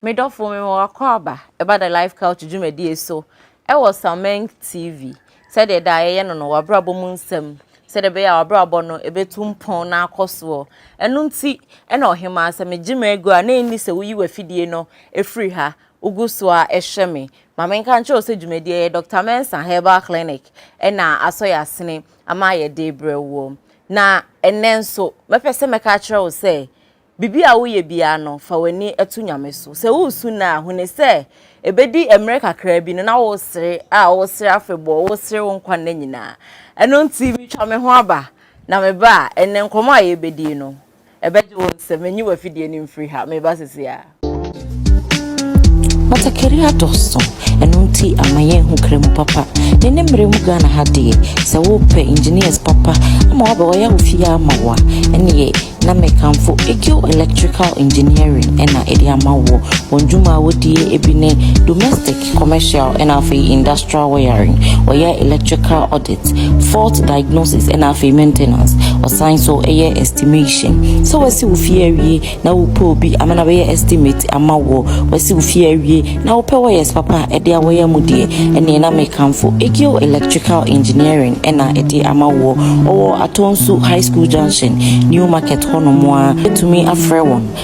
Medɔfo me wɔ akwaaba ɛba da life couch dwumadie so ɛwɔ Sameng TV sɛdeɛ da yɛyɛ no no wabrabɔ mu nsɛm sɛdeɛ ɛbɛyɛ a wabrabɔ no ɛbɛtu mpɔn na akɔ soɔ ɛno nti ɛna ɔhemaa sɛ megye m'agu a na ɛnni sɛ woyi w'afidie no ɛfiri ha Wogu so ara hwɛ me. Ma menka nkyerɛ wo sɛ dwumadie yɛ Doctor Mensah Herbal Clinic na asɔ yɛn asene ama ayɛ de rebrɛ woɔ. Na ɛnnɛ nso, mɛpɛ sɛ mɛka akyerɛ wo sɛ, biribi a woyɛ biara no, fa w'ani to Nyame so. Sɛ woresu nnɛ a, hunu sɛ ɛbɛdi mmerɛ kakra bi no na woresere a woresere afebɔɔ, woresere wo nkwa nna nyinaa. Ɛno nti, metwa me ho aba, na meba a, ɛnnɛ nkɔmmɔ a yɛrebɛdi no, Ɛbɛgye wo nsɛm. Nyi w'afidie no mfiri ha. Meba sesei ara. Batakari adɔɔso, ɛno nti ama yɛnhu kra mu papa. Ne ne mmerɛ mu Ghana ha deɛ, sɛ wopɛ engineers papa ama wabɛɔyɛ wo fie ama wo a, ɛneɛ na mekamfo Egil Electrical Engineering na ɛde ama woɔ. Wɔn dwuma a wɔdie bi ne domestic, commercial ɛna afei industrial wiring ɔyɛ electrical audit fault diagnosis ɛna afei maintenance ɔsan so ɛyɛ estimation sɛ wasi wo fie awie na wopɛ obi ama na bɛyɛ estimate ama wɔ wasi wo fie awie na wopɛ wɔyɛs papa ɛde awɔyɛ mu deɛ ɛneɛ na mekamfo egeo electrical engineering ɛna ɛde ama wɔ ɔwɔ atɔnsu high school junction new market hɔ nomoa ɛtumi afrɛ wɔn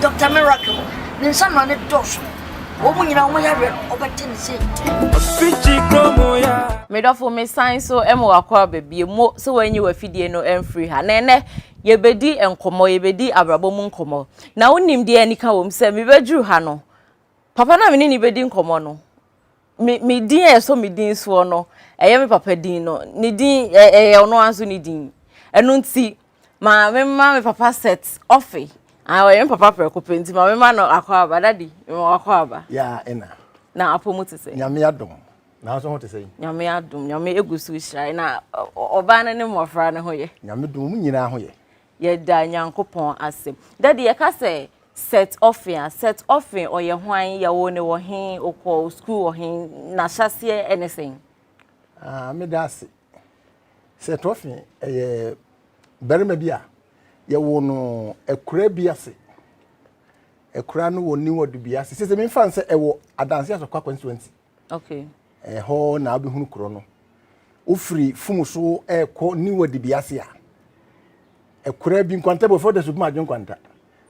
Doctor Miracle, ne nsa no ne dɔɔso. Wɔn nyinaa wɔn yareɛ no wɔbɛte ne se. Ɔfikyi kurom ya. Medɔfo mesan so ma wakɔ aba bio mo sɛ wɔanyi wafidie no mfiri ha na ɛnɛ yɛbɛdi nkɔmmɔ yɛbɛdi abrabɔ mu nkɔmmɔ na wonim deɛ anika wɔ mu sɛ mebɛduru ha no papa no a mene ne bɛdi nkɔmmɔ no Me me din a ɛsɔ me din soɔ no, ɛyɛ me papa din no. Ne din ɛ ɛyɛ ɔno ara nso ne din. Ɛno nti, ma memma me papa set ɔfe. Ah, ɔyɛ me papa prɛko pɛ nti ma memma no akwaaba. Daddy, mema wo akwaaba. Ya ɛna. Na apɔ mu te sɛn? Nyame adom. Nanso ho te sɛn? Nyame adom. Nyame egu so rehyira yɛn. Na ɔ ɔ ɔbaa no ne mmɔfra no ho yɛ? Nyame dom, wɔn nyinaa ho yɛ. Yɛda Nyankopɔn ase. Daddy yɛka sɛ Seth Offin a, Seth Offin ɔyɛ hwan, yɛwoo no wɔ he, ɔkɔɔ school wɔ he, n'ahyɛseɛ ɛne sɛn? Ah, meda ase. Seth Offin ɛyɛ barima bi a yɛwoo no akuraa bi ase. Akuraa no wɔ New Ɔdubi ase. Sese memfa no sɛ ɛwɔ Adanse Asɔkwa constituency. Okay. Ɛhɔ na wobɛhunu kuro no. Wofiri fum so ɛrekɔ niwa dibiase a, ɛkura bi nkwanta bi wɔfrɛ da subuma adwen nkwanta.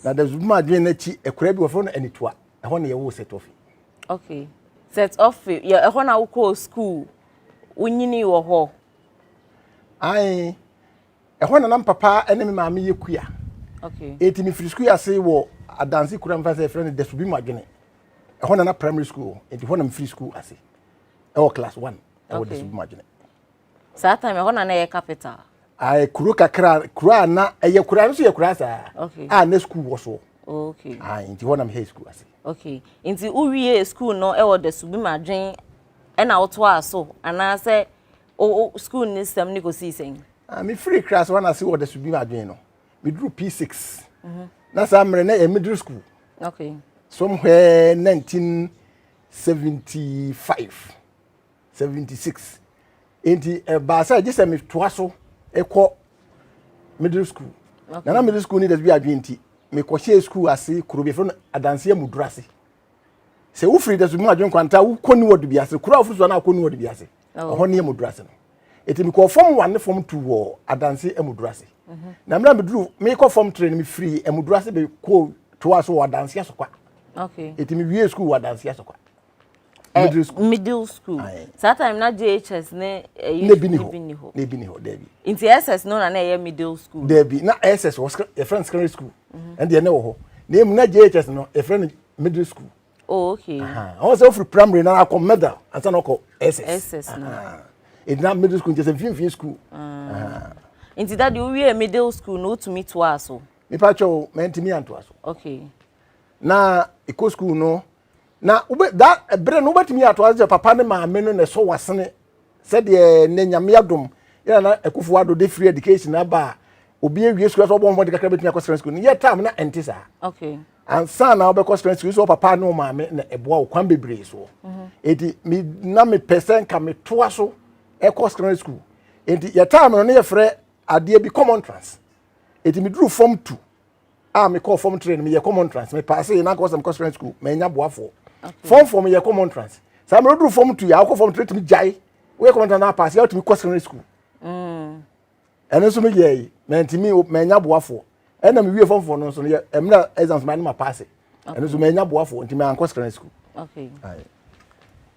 Na da subuma adwen no akyi ɛkura bi wɔfrɛ no anitua. Ɛhɔ na yɛwɔ set ofi. Okay. Set ofi, yɛ ɛhɔ na wokɔɔ school, wonyini wɔ hɔ. Ae, ɛhɔ na nam papa ne me maame yɛ kua ɛti mefiri sukuu ase wɔ adanse kura mfa sɛ ɛfrɛ no dasubi mu adwene ɛhɔ na na primary school ɛti hɔ na mefiri sukuu ase ɛwɔ class one ɛwɔ dasubi mu adwene saa time ɛhɔ na na ɛyɛ capital ayɛ kuro kakra kuro a na ɛyɛ kura nso yɛ kura saa a na sukuu wɔ soɔ okay ah nti hɔ na mehɛ sukuu ase okay nti wowie sukuu no ɛwɔ dasubi mu adwene ɛna wotoa so anaasɛ O o school ne sɛm ne kɔsii sɛn? Ah, me firi class one ase wɔ daso bi mu adwene no. Me duru P6. Mm -hmm. Na saa mmerɛ na yɛ middle school. Okay. Somewhere 1975, 76. Enti ɛbaa sɛ gye sɛ metoa so ɛkɔ middle school. Okay. Na na middle school ne daso bi adwene nti mekɔhyɛɛ school ase kuro bi ɛfrɛ no adanseɛ mu duru ase. Sɛ wofiri daso bi mu adwene kwanta wokɔ ne wɔde bi ase. Kuro a wofiri so a na akɔ ne wɔde bi ase. ɛhɔ ne amuduru ase no eti mekɔɔ fam one ne fam two wɔ adanse amuduru ase mhm. na mmerɛ meduru mekɔ fam three no mefiri amuduru ase bɛkɔ toa so wɔ adanse asokwa eti mewie sukuu wɔ adanse asokwa eh, middle school middle school saa time na jhs ne ɛyi eh, ne bi ni hɔ ne bi ni hɔ dɛbi nti ss no na na ɛyɛ middle school dɛbi na ss wɔ yɛfrɛ no secondary school mhm. ɛndeɛ ne wɔ hɔ na emu na jhs no yɛfrɛ no middle school oh okay ɔwɔ sɛ ɔfiri primary na akɔ medal ansa na ɔkɔ ss ss no ɛdina middle school nkyɛ sɛ mfimfini school ah. nti dade wowie middle school na wotumi toaa so mepa kyɛ o mantumi antoa so okay na ɛkɔ school no na wobɛ da ɛberɛ no wobɛtumi atoa so sɛ papa ne maame no na ɛsɔ wasene sɛdeɛ nnɛ nyame adom yɛna na ɛkofo ado de free education aba a obi awie sukuu sɛ ɔbɔ mmɔden kakra bɛtumi akɔ sra sukuu no yɛ tam na ɛnte saa okay ansa na wobɛkɔ spɛn sukuu sɛ wo papa ne wo maame na ɛboa wo kwan bebree soɔ ɛti mhm. me na mepɛ sɛ nka metoa so ɛkɔ secondary school ɛti yɛtaa me no ne yɛfrɛ adeɛ bi common trans ɛti meduru fam tu a mekɔɔ fam tre no meyɛ common trans mepaase na nkɔ sɛ mekɔ secondary school manya boafoɔ fam fam yɛ common trans saa mmerɛ duru fam tu yɛ awokɔ fam tre tumi gyae woyɛ common trans na apaase yɛ wotumi kɔ secondary school mm. ɛno nso meyɛe mantumi manya boafoɔ ɛna mewie fam foɔ no nso yɛ ɛmena exams ma ne ma paase ɛno nso manya boafoɔ nti mankɔ secondary school okay.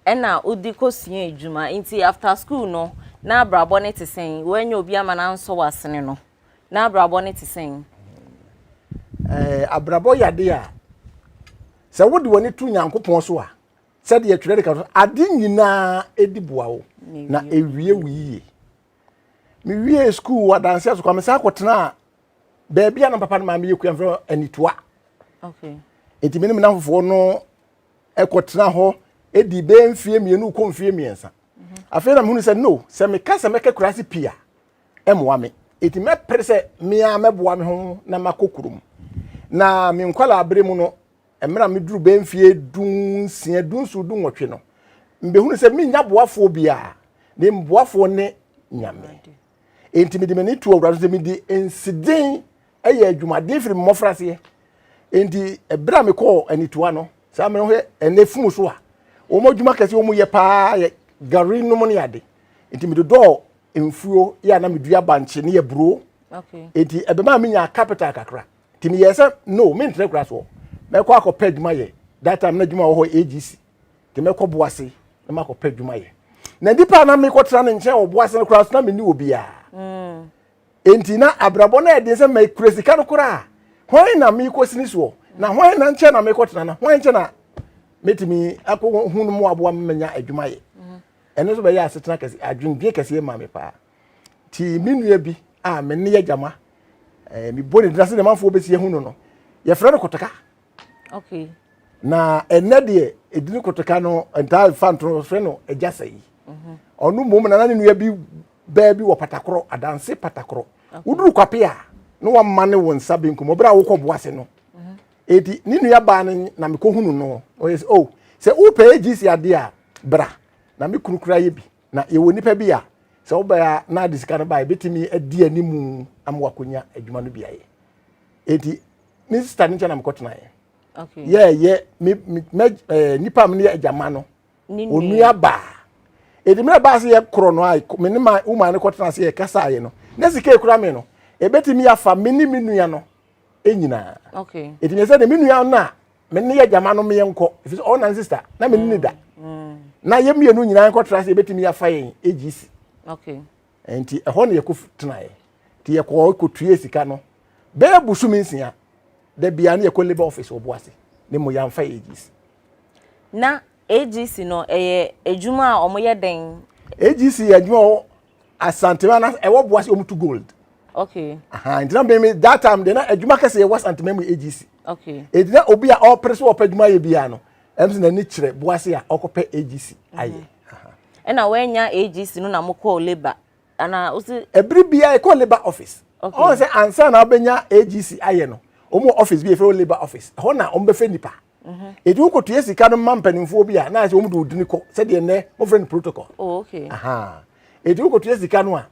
ɛna wode kɔsua adwuma nti after school no na abrabɔ no te sɛn woanya obi ama no ansɔ w'asene no na abrabɔ no te sɛn eh, abrabɔ yɛ ade a sɛ wode w'ani to nyankopɔn so a sɛdeɛ twerɛ de ka so ade nyinaa ɛdi boa wo na ɛwie wo yie mewiee sukuu wɔ adanseɛ so kwa mesan kɔtenaa baabi a na papa no maa meyɛ kua mfrɛ anitoa nti me ne me namfofoɔ no ɛkɔtena hɔ ɛdi bɛɛ mfie mmienu kɔ mfie mmiɛnsa mhm. afei na mehunu sɛ no sɛ meka sɛ mɛka kura ase pii a ɛmmoa me ɛti mɛpere sɛ mea mɛboa me ho na makɔ kurom na menkwala abere mu no Mmerɛ a meduruu bɛyɛ mfeɛ dunsia, dunson, dunwɔtwe no, mebɛhunu sɛ mennya boafoɔ biara, ne mboafoɔ ne Nyame. Enti mede m'ani too Awurade so sɛ mede nseden yɛ adwumaden firi me mmɔfraseɛ. Enti ɛberɛ a mekɔɔ anitoa no, saa mmerɛ hwɛ ɛnɛ funu so a, wɔn adwuma kɛse wɔn yɛ paa yɛ gari nom ne ade. Enti medodɔɔ mfuo yɛ a na medua bankye ne aburo. Enti ɛbɛma menya capital kakra. nti meyɛɛ sɛ no mentrɛ kora soɔ mɛkɔ akɔpɛ adwuma yɛ that time na adwuma wɔ hɔ agc nti mɛkɔ boase na makɔpɛ adwuma yɛ na nipa a na mekɔtra ne nkyɛn wɔ boase no koraa so na menni wɔ biara mm. nti na abrabɔ no ɛden sɛ mɛkura sika no koraa hwan na mekɔ sini soɔ na hwan na nkyɛn na mekɔtra na hwan nkyɛn na mɛtumi akɔhu no mu aboa manya adwuma yɛ mm. ɛno nso bɛyɛ asetena kɛse adwendwen kɛseɛ ma me paa nti me nua bi a me ne yɛ gyama ɛɛ eh, mebɔ ne dina sɛ nneɛmafoɔ bɛsi ahu no no yɛfrɛ no kotaka okay. na ɛnɛ deɛ ɛdini kotaka no ntaa fa nto no frɛ no agya sɛ yi mhm. ɔno mmom nana ne nua bi bɛɛ bi wɔ patakorɔ adanse patakorɔ woduru kwape a na wama ne wo nsa benkum ɔberɛ a wokɔ boa se no mhm. eti ne nua baa no na mekɔhunu no ɔyɛ sɛ o oh, sɛ wopɛ agc adeɛ a bra na me kunu kura yɛ bi Na yɛwɔ nnipa bi a, sɛ wobae a na de sika no bae, ebetumi adi anim ama wakonya adwuma no bi ayɛ. Enti ne sista no nkyɛn na mekɔtenaeɛ. Okay. Yɛɛyɛ me me me eh, nipa a me ne yɛ agya ma no. Ne nua. Onua baa. Edi mmerɛ baa sɛ yɛkorɔ no a, me ne ma wo maa no kɔtena ase yɛkasaeɛ no. Na sika ekura me no, ebetumi afa me ne me nua no nyinaa. Okay. Enti meyɛ sɛ de me nua no a me ne yɛ gyama no meyɛ nkɔ ɛfiri sɛ ɔna ne sista na me ne ne da mm. na yɛ mmienu nyinaa nkɔtra sɛ yɛbɛtumi afa yɛn agc nti ɛhɔ ne yɛkɔ tenaeɛ nti yɛkɔ kɔtue sika no bɛɛ busumi nsia da bia ne yɛkɔ labour office wɔ boase ne mu yɛamfa yɛ agc na AGC no ɛyɛ adwuma a wɔn yɛ dɛn. AGC yɛ adwuma wɔ asantema na ɛwɔ boa sɛ wɔn tu gold. Okay. Aha ntina bɛn mi that time de na adwuma kɛse yɛ wɔ asantema mu AGC. Okay. Edi na obi a ɔpere so ɔpɛ adwuma yɛ biara no ɛm sɛ n'ani kyerɛ boa sɛ a ɔkɔpɛ AGC ayɛ. Mhm. Ɛna wɔanya AGC no na mo kɔɔ labour ana wosi. Ebiri biara ɛkɔ labour office. Okay. Ɔn sɛ ansa na ɔbɛnya AGC ayɛ no wɔn wɔ office bi efɛ wɔ labour office ɛhɔ na wɔn bɛfɛ nipa. mhm. eti wokotua sika no ma mpanimfoɔ bi a na ayɛ sɛ wɔn de odini kɔ sɛdeɛ nnɛ wɔfrɛ no protocol oh, okay. aha eti wokotua sika no a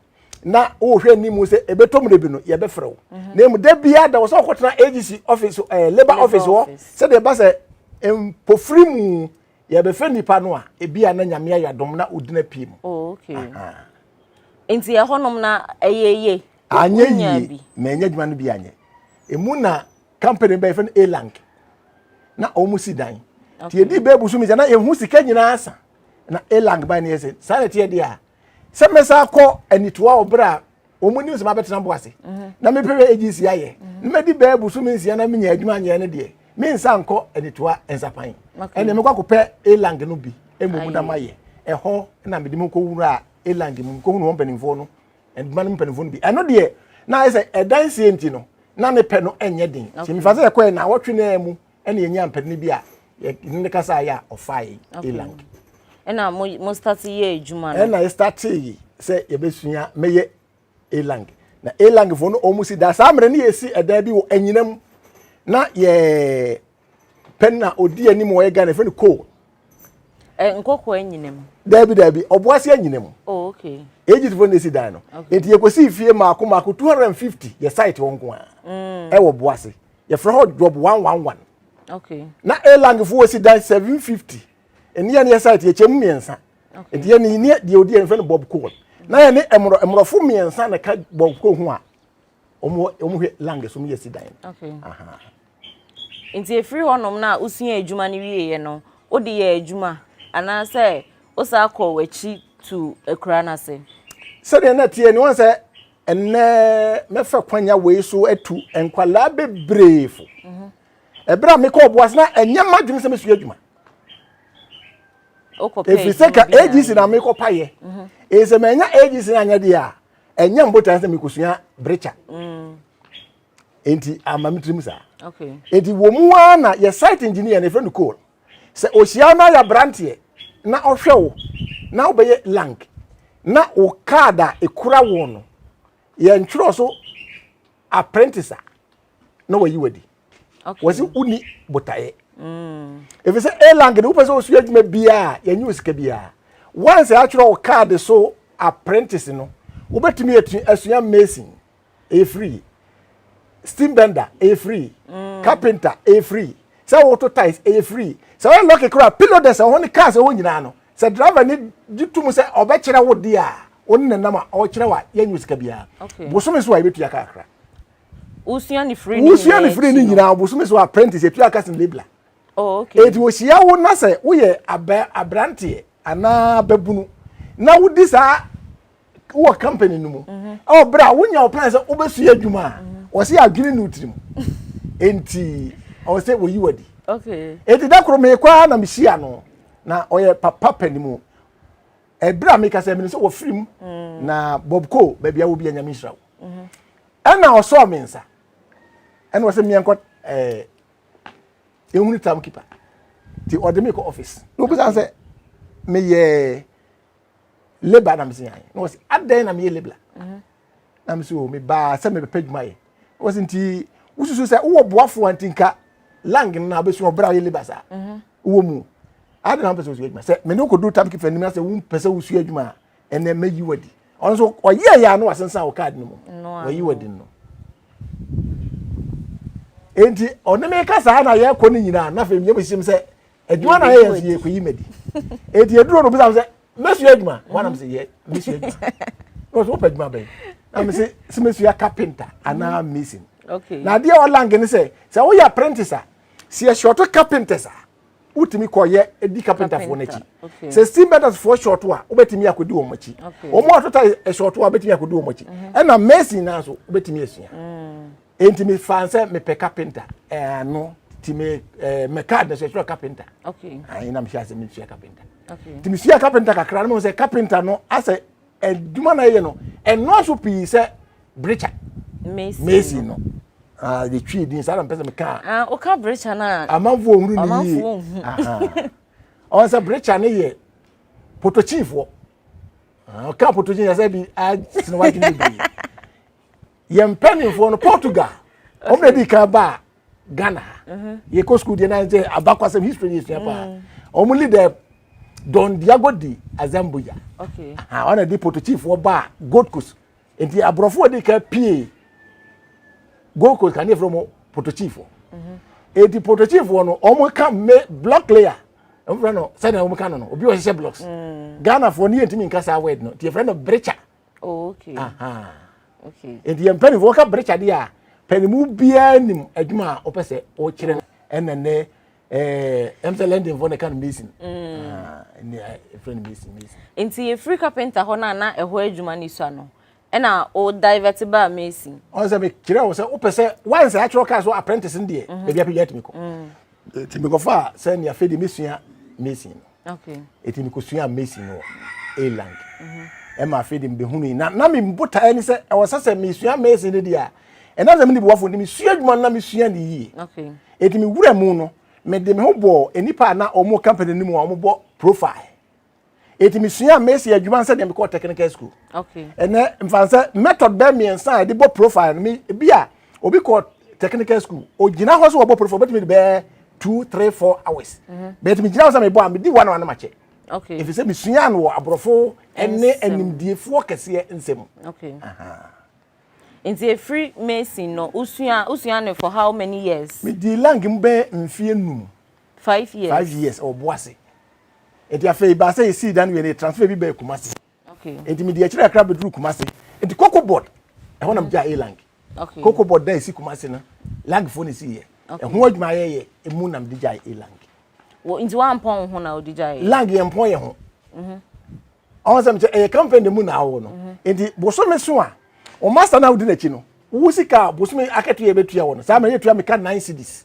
na wohwɛ anim sɛ ɛbɛtɔ mu de bi no yɛbɛfrɛ wo mhm. na emu da biara da wɔ sɛ wɔkɔtena agc office ɛɛ eh, labour office hɔ sɛdeɛ ɛba sɛ mpofiri mu yɛbɛfrɛ nipa no a ebi a na nyame ayɛ adom na odina pie mu oh, nti ɛhɔnom na ɛyɛ yie anyɛ yie na ɛnyɛ adwuma no bi anyɛ emu na company bɛyɛ fɛ no elank na wɔn si dan ti yɛ di bɛɛ busu mi sɛ na yɛn ho sika nyinaa sa na elank ban no yɛ sɛ saa na ɛteɛ deɛ a sɛ mɛsa akɔ anitoa wɔ berɛ a wɔn nim sɛ mabɛtena bo ase mhm. na mepɛ bɛ agyi si ayɛ mhm. na mɛdi bɛɛ busu mi nsia na menya adwuma nyɛ no deɛ me nsa nkɔ anitoa nsapan ɛnna mekɔ akɔpɛ elank no bi mmom na mayɛ ɛhɔ na mede mu kɔ wura elank mu kɔ hunu wɔn mpanimfoɔ no Ɛma no mpanimfoɔ no bi. Ɛno deɛ na ayɛ sɛ ɛdansie nti no na ne pɛ no nyɛ den. Nti mefa sɛ yɛkɔɛ na awɔtwe no a mu ɛna yɛnya mpɛrɛne bi a yɛne ne kasa ayɛ a ɔfaa yɛ elang. Ɛna mo mo start yɛ adwuma no. Ɛna yɛ start yi sɛ yɛbɛsua mɛyɛ elang. Na elang foɔ no wɔn si da saa mmerɛ ne yɛsi ɛdan bi wɔ anyinam na yɛ Pɛ na odi anim ɔyɛ Ghana efɛ no coal. Ɛ nkɔkɔ anyina mu. Daabi daabi ɔboase anyina mu. Oh okay. Egypt fo na esi dan no. Eti yɛkɔsi fie maako maako two hundred and fifty yɛ site hɔ nko a. Mm. Ɛwɔ boase. Yɛfrɛ hɔ job one one one. Okay. Na elang fo esi dan seven fifty. Ɛne yɛ ne yɛ site yɛkyɛ mu mmiɛnsa. Okay. Eti yɛ ne ne deɛ odi yɛ nfɛ no bob coal. Na yɛ ne ɛmorɔ ɛmorɔfo mmiɛnsa na ka bob coal ho a. Wɔn wɔn hwɛ lang so wɔn yɛ si dan. Okay. Aha. Nti ɛfiri hɔnom no a wosuaa adwuma no wieeɛ no, wode yɛɛ adwuma anaasɛ wosan kɔɔ w'akyi tu akura no ase? Sɛdeɛ na ɛteɛ ni, wɔn sɛ ɛnɛ mɛfa kwanya wei so atu nkwadaa bebree fo. Ɛberɛ mhm. a mekɔɔ boase na ɛnyɛ m'adwene sɛ mɛsua adwuma. Ɛfiri sɛ ka AGC na mekɔpayɛ. Mhm. Ɛsɛ manya AGC no anyɛ deɛ a ɛnyɛ mbotan sɛ mekɔsua brekya. Mm. nti ama me tirim saa nti wɔ mu ara na yɛ site engineer ne fɛ no coal sɛ ohyia na yɛ abranteɛ na ɔhwɛ wo na wobɛyɛ lank na wo card a ekura wo no yɛ ntwerɛ so apprentice a na wayi wadi wɔsi woni botaeɛ mm. efi sɛ a lank de wopɛ sɛ osua adwuma biara yɛnyɛ osika biara once atwerɛ wo card so apprentice no wobɛtumi asua mason ɛyɛ free steam bender ɛyɛ free mm. carpenter ɛyɛ free sɛ woto tiles ɛyɛ free sɛ wɔyɛ lɔki kora pillow dɛ sɛ wɔn ne cars ɛwɔ nyinaa no sɛ driver ne gye tum sɛ ɔbɛkyerɛ wo deɛ a wɔn ne nam a ɔkyerɛ wa yɛn nyɛ sika biara bosome so a yɛbɛtua kakra wosua ne firi ne wosua ne firi ne nyinaa bosome so apprentice yɛtua kasi labla oh, eti wɔhyia wo na sɛ woyɛ abranteɛ anaa bɛbunu na wodi saa wowɔ company no mu ɛwɔ berɛ a wonya wo plan sɛ wobɛsua adwuma a wɔ sɛ yɛadwene ne wo tiri mu enti ɔwɔ sɛ wɔyi wadi enti da koro meekɔ ara na mehyia no na ɔyɛ papa pani mu ɛberɛ a meka sɛ mene sɛ wɔfiri mu mm. na bob co baabi a wɔ bi anyame nhyira wo mhm. ɛna ɔsɔɔ me nsa ɛna ɔsɛ meɛnkɔ ɛɛ ehunu tam kipa ti ɔde me kɔ office na obusa sɛ meyɛ labor na mesi yan na wɔsi adɛn na meyɛ labor mhm. na mesi o oh, mebaa sɛ mebɛpɛ adwuma yɛ wɔsi nti wosusu sɛ wowɔ boafoɔ nti nka lang no na wobɛsua ɔbrɛ a woyɛ labor saa mhm. wowɔ mu ade na wopɛ sɛ wosua adwuma sɛ mene wokɔdu tam kefa anim na sɛ wompɛ sɛ wosua adwuma a ɛnɛ mɛyi wadi ɔno nso ɔyɛ yɛ ano asensan wɔ kaad no mu wɔyi wadi no enti ɔne me ka saa na yɛkɔ no nyinaa na afei meyɛ mehyem sɛ adwuma na yɛyɛ nso yɛkɔyi madi ɛti ɛduro no bisa sɛ mɛsua adwuma wanam sɛ yɛ mɛsua adwuma na ɔsɛ wopɛ adwuma bɛn na me sɛ sɛ mɛsua kapenta anaa mhm. mason na adeɛ ɔlange ne sɛ sɛ woyɛ apprentice a sɛ yɛhyɛɔto kapenters a wotumi kɔyɛ ɛdi kapentafoɔ no akyi sɛ steam bendersfoɔ hyɛɔto a wobɛtumi akɔdi wɔn akyi wɔn a tota hyɛɔto a wobɛtumi akɔdi wɔn akyi mhm. ɛna mason naa so wobɛtumi asua mm. Enti me fa sɛ mepɛ kapenta. Ɛno ti me me card na sɛ sɛ kapenta. Okay. Ayi na me hyɛ asɛ me sua kapenta. Okay. Ti me sua kapenta kakra no sɛ kapenta no asɛ adwuma na ɛyɛ no ɛnɔɔso pii sɛ brecha. Mason. Mason no. Ah, de twi din saa na mpɛ sɛ me ka. Ah, o ka brecha na. Amanfo ohuru ni. Amanfo ohuru. Aha. Ɔn sɛ brecha ne yɛ potochifoɔ. Ah, ɔka potochi yɛ sɛ bi a siniwa dwuma bi. yɛn mpanimfoɔ no portugal wɔn na edi kan ba ghana ha mhm. yɛ kɔ sukuu deɛ nan sɛ abakwasɛm history yɛ sua paa mm. wɔn leader don diago di azambuja wɔn na di portuguesefoɔ ba gold coast nti aborɔfo edi kan pie gold coast kan ne efra wɔn portuguesefoɔ mhm. eti portuguesefoɔ no wɔn ka me block layer wɔn fɛ no sɛdeɛ wɔn ka no no obi wɔ hyehyɛ blocks mm. ghana foɔ ne yɛ ntumi nkasa word no ti yɛ fɛ no brecha. oh, okay. Aha. okay. nti yɛn mpanimfoɔ ka berekyade a panimu biara nim adwuma a wɔpɛ sɛ wɔkyerɛ no ɛna nnɛ ɛɛ ɛm sɛ londonfoɔ na ɛka no mason ɛne ɛfrɛ no mason mason nti yɛfiri carpenter hɔ no a na ɛhɔ adwuma no sua no ɛna o divert baa mason ɔn sɛ mekyerɛ wo sɛ wopɛ sɛ wansɛ akyerɛ kaa so apprentice no deɛ baabi apɛdwa atumi kɔ Eti mekɔfa sɛ nea afei de mesua mason no. Okay. Eti mekɔsua mason no wɔ Ireland. Mhm. Ɛma afei de mebɛhunu yi. Na na me botaeɛ ne sɛ ɛwɔ sɛ sɛ mesua mason no deɛ a ɛna sɛ mene boafo nti mesua adwuma no na mesua ne yie. Okay. Eti mewura mu no mede me ho bɔɔ nnipa a na wɔn company no mu a wɔbɔ profile. eti mesuaa mesi adwuma sɛdeɛ mekɔɔ technical school ɛnɛ mfa sɛ method bɛɛ mmiɛnsa a yɛde bɔ profile no bi a obi kɔ technical school ogyina hɔ sɛ wɔbɔ profile obɛtumi de bɛɛ two three four hours mhm. bɛɛti megyina hɔ sɛ mebɔ a medi one hour no makyɛ ɛfiri sɛ mesuaa no wɔ aborɔfo ne animdiefoɔ kɛseɛ nsɛm nti ɛfiri mason no wosua wosua no for how many years medi lang mu bɛɛ mfeɛ num five years five years ɔboase nti afei baa sɛ yɛsii dan wei no yɛtransfer bi bɛɛ kumase nti mede akyiri akra bɛduru kumase nti coco board ɛhɔ nam gyaa elang coco board da ɛsi kumase no lagfoɔ no ɛsi yɛ ɛho adwuma yɛyɛ ɛmu nam de gyaa elang nti wampɔn wo ho na wode gyaa lang yɛmpɔn yɛ ho mhm. ɔn sɛ mekyɛ ɛyɛ campaign de mu na awɔ no mhm. nti bosome so a ɔma sa no wodi n'akyi no wo sika bosome akatua yɛbɛtua wɔ no saa mmerɛ yɛtua meka nine cities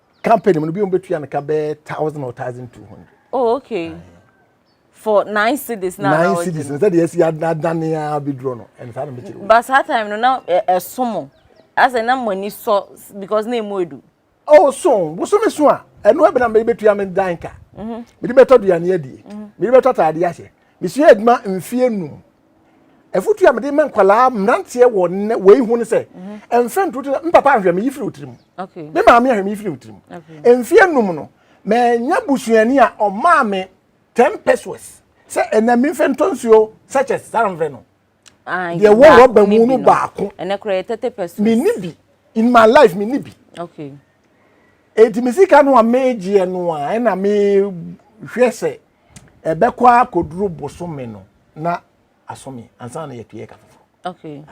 company mu no bi a wɔbɛtua no ka bɛyɛ thousand or thousand two hundred. oh okay for nine cities na nine cities na sɛdeɛ ɛsi adane a bɛduro no ɛne saa na mekyerɛ wo but saa time no na ɛso mo asɛ na mo ani sɔ because na ɛmu edu oh so bosome so a ɛno ɛbɛna mede bɛtua me dan ka mede bɛtɔ duane adie mede bɛtɔ ataadeɛ ahyɛ mesua adwuma mfeɛ num afutu a mede ma nkwadaa mmeranteɛ wɔ nnɛ wei ho ne sɛ mfɛ ntoro tiri me papa ahwɛ me yifiri otiri mu me maame ahwɛ me yifiri otiri mu mfie num no mɛnya busuani a ɔmaa me ten pesos sɛ ɛnna mi mfɛ ntɔ nsuo sachets saa mfɛ no deɛ wɔ rɔba mu no baako ɛnɛ kora yɛ tete pesos me ni bi in my life me ni bi okay eti me sika no a megyeɛ no a ɛna me hwɛ sɛ Ɛbɛkɔ ara kɔduru bosome no na asome ansa na yɛtue ɛka foforɔ. Okay.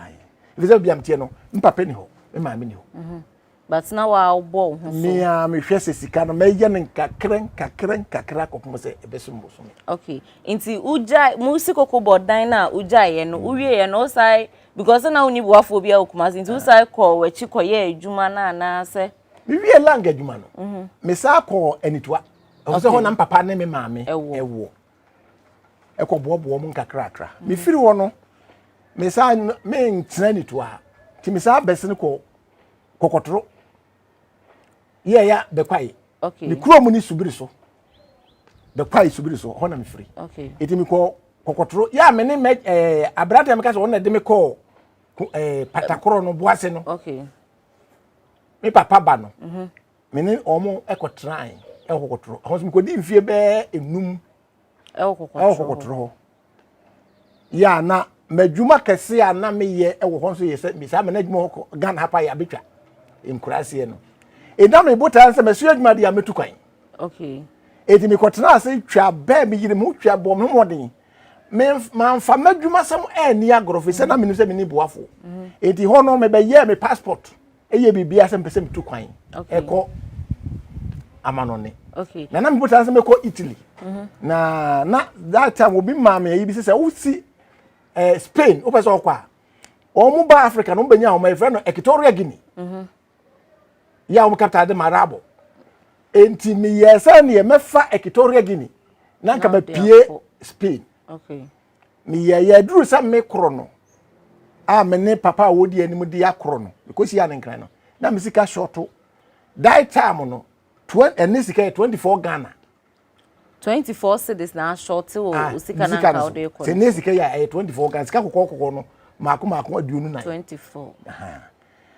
Ɛfiri sɛ bia mteɛ no mpapa ni hɔ me maame ni hɔ. Mhm. But na wabɔ wo ho so. Mea mehwɛ sɛ sika no mɛyɛ no nkakra nkakra nkakra kɔpem sɛ ɛbɛsom bosome. Okay. Nti wogyae mo si koko bɔ dan no a wogyaeɛ no mm. wowieɛ no wosae because na wonni boafoɔ bi a wɔ Kumasi nti ah. wosae kɔɔ w'akyi kɔyɛ adwuma no anaasɛ. Mewie lang adwuma no. Mhm. Mesaa kɔɔ Anitoa. ɛwɔ sɛ hɔ na mpapa ne me maame ɛwɔ ɛkɔboaboa mu nkakrakra mm. mefiri hɔ no mesaa mentena nituo a nti mesaa bɛsene kɔ kɔkɔtoro yɛya bɛkwae ne kuro mu ne subiri so bɛkwae subiri so hɔ na mefiri ɛti mekɔ kɔkɔtoro yɛ a me ne mɛ ɛɛ aberanteɛ meka sɛ ɔno na ɛde me kɔɔ ɛɛ patakorɔ no boase no me papa ba no. Mm -hmm. me ne wɔn kɔtenae ɛwɔ kɔkɔtoro ɛhɔ nso mekɔdi mfie bɛɛ enum ɛwɔ kɔkɔtoro hɔ yɛ a na m'adwuma kɛse a na meyɛ ɛwɔ hɔ nso yɛ sɛ me saa mɛ n'adwuma hɔ kɔ ghana ha pa yɛ abɛtwa nkuraseɛ no ɛda me botaa sɛ mɛso adwuma deɛ mɛtu kwan okay ɛti mekɔtena ase twa bɛɛ meyere me ho twa bɔ me mmɔden mamfa m'adwumasɛm anni agorɔ fi sɛ na menim sɛ menni boafoɔ ɛti mm-hmm. hɔ no mebɛyɛɛ me passport ɛyɛ biribi asɛ mpɛ sɛ metu kwan ɛkɔ amanɔne na na mepɛ sɛ mekɔ italy mhm. na na that time obi maa me ayi bi sɛ sɛ wosi eh, spain wopɛ sɛ ɔkɔ a wɔn mu ba africa na wɔn bɛnya wɔn ɛfrɛ no equatorial guinea mhm. yɛ a wɔn kapta de ma arabo nti meyɛ sɛ neɛ mɛfa equatorial guinea na nka mapie spain okay. Meyɛ yɛ duru sɛ me koro no a me ne papa a wɔdi anim de akoro no mekɔsi a ne nkran no na me sika shɔto die time no ɛne sika yɛ 24 Ghana 24 cities na ashɔte wɔ ah, osika na nka wode kɔ sɛ ne sika yɛ ɛyɛ 24 Ghana sika kɔkɔɔ kɔkɔɔ no maako maako aduonu nan 24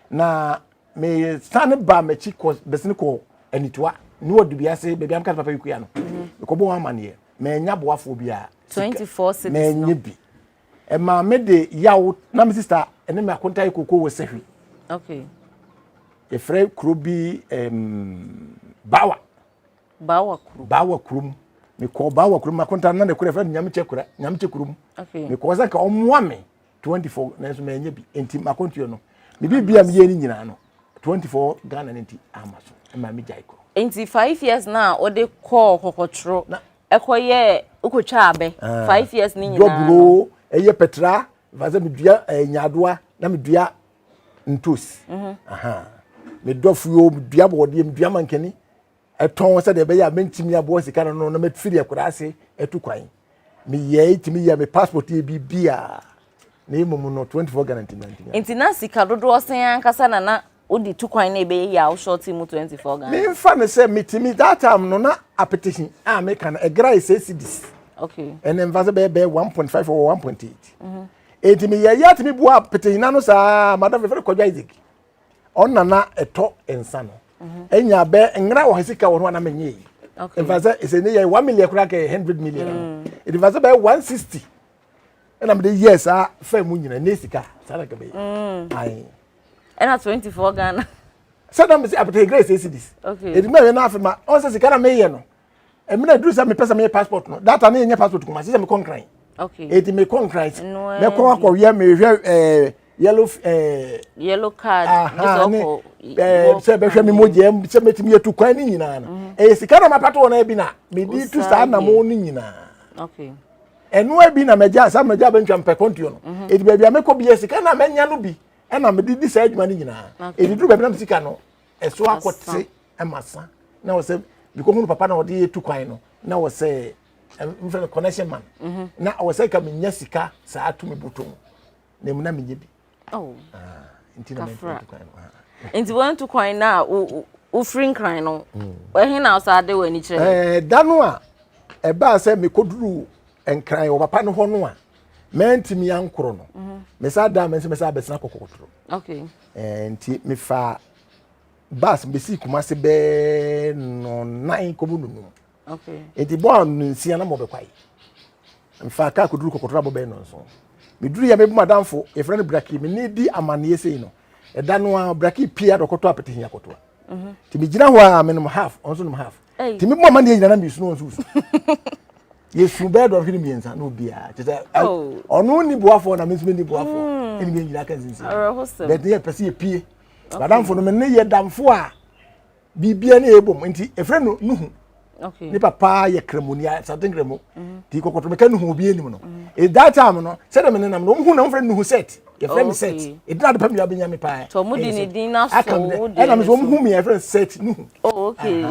na mesane baa m'akyi kɔ bɛsene kɔ anitoa ne wɔ dubia se baabi amka ne papa yɛkua no mekɔbɔ wɔn amaneɛ manya boafoɔ biara manya bi ɛmaa me de yaw na me sista ɛne me akonta yɛ koko wɔ sahwi okay. yɛfrɛ kuro bi um, bawa bawa kuro bawa kuro mu mekɔ bawa kuro mu akonta na ne kura fɛ nyamekyɛ kura nyamekyɛ kuro mu okay. mekɔ sɛ nka ɔmmoa me twenty four nanso mɛnyɛ bi nti makɔntua no me biribi a meyɛ no nyinaa no twenty four ghana no nti ama so ɛma me gyae kɔ nti five years na a wode kɔɔ kɔkɔtoro ɛkɔyɛ wokɔtwa abɛ ah. five years ne nyinaa dɔburo ɛyɛ pɛtra fasɛ medua eh, nyaadoa na medua ntos mhm. medua fuo medua bɔɔdeɛ medua mankani tɔn sɛdeɛ ɛbɛyɛ a mɛntumi aboa sika no no na mɛfiri akwadaa ase atu kwan meyɛe tumi yɛ me passport yɛ biribiaa na mmom no 24 Ghana ntumi antumi nti na sika dodoɔ sɛn ankasa na na wode tu kwan na ɛbɛyɛ yɛ a woshɔte mu 24 Ghana memfa no sɛ metumi that time no na apetition a meka no ɛgra yɛ sɛ cedis okay ɛne mfa sɛ bɛyɛ bɛyɛ 1.5 or 1.8 ɛnti meyɛyɛ atumi boa apetition no saa madam fɛfɛ kɔdwa isaac ɔna na ɛtɔ nsa no mhm. ɛnya bɛ ngra wɔ sika wɔ ho a na menyɛ yi mfa sɛ ɛsɛ ne yɛ one million koraa kɛ hundred million mm. ɛde fa sɛ bɛyɛ one sixty ɛna mede yɛ saa fɛn mu nyina ne sika saa na kɛbɛyɛ mm. ae ɛna twenty four ghana sɛ na mesi apɛtɛ grace esi dis ɛdi mu ɛyɛ n'afɛ ma ɔn sɛ sika na meyɛ no ɛmi na eduru sɛ mepɛ sɛ meyɛ passport no data ne yɛnyɛ passport kuma sɛ mekɔ nkran eti mekɔ nkran mɛkɔ akɔwia mehwɛ ɛɛ eh, yellow ɛɛ eh, yellow card aha ne ɛɛ eh, sɛ bɛhwɛ mi mo gyɛ sɛ mɛtumi yɛ tu kwan ne nyinaa no mhm. ɛyɛ sika na mapata wɔn ɛbi na medi tu saa na mo ne nyinaa ɛno ɛbi na mɛgya saa mɛgya bɛntwa mpɛ kɔntuo no mhm. eti baabi a mɛkɔ bi yɛ sika na mɛnya no bi ɛna mɛdi di saa adwuma ne nyinaa eti duru baabi na mɛ sika no ɛso akɔ te. ma sa na wɔ sɛ bikɔ hunu papa na ɔde yɛ tu kwan no na wɔ sɛ mfrɛ no connection man mhm. na ɔwɔ sɛ ka menya sika saa tumi botɔ mu na mu na menyɛ bi oh. ah, nti na mɛtu kwan no ah. nti wɔntu kwan no a wofiri nkran no hmm. ɛhe na ɔsaa de w'ani kyerɛ eh, da no a ɛbaa sɛ mekɔduru nkran wɔ papa no hɔ no a mɛntumi ankorɔ no mhm. mesa da mɛsɛ mɛsɛ abɛsena kɔkɔkɔtoro eh, nti mefaa bus besi kumase bɛɛ nɔnan kɔmu nunum nti bɔ a nsia na mɔbɛkwae mfa kaa kɔduru kɔkɔtoro abɔ bɛɛ nɔnso meduru yɛ mebu madamfo yɛfrɛ no braki me ne di amanneɛ sei no ɛda no a braki pia dɔkɔtɔ apete hia kɔtoa mhm. nti megyina hɔ a menom half ɔnso nom half nti mebu amanneɛ nyina na mesunu ɔnso su yɛsu bɛɛ dɔnhwene mmiɛnsa na obiaa kyɛ sɛ oh. ɔno nni boafoɔ na me nso menni boafoɔ ɛne mm. yɛ nyina ka nsinsi bɛde yɛpɛ sɛ yɛpie Madamfo no me ne yɛ damfo a biribiara ne yɛbɔ mu nti ɛfrɛ no nuhu ne papa yɛ kramoni asante nkramu mhm. nti kɔkɔtɔ meka nuhu obi anim no mhm. e, that time no sɛdeɛ me nenam no ɔmhu na ɔmfrɛ nuhu set yɛfrɛ me set ɛdina e, ade pa mmira bɛnya me paa ɛna me sɛ ɔmhu me yɛfrɛ set nuhu oh, nti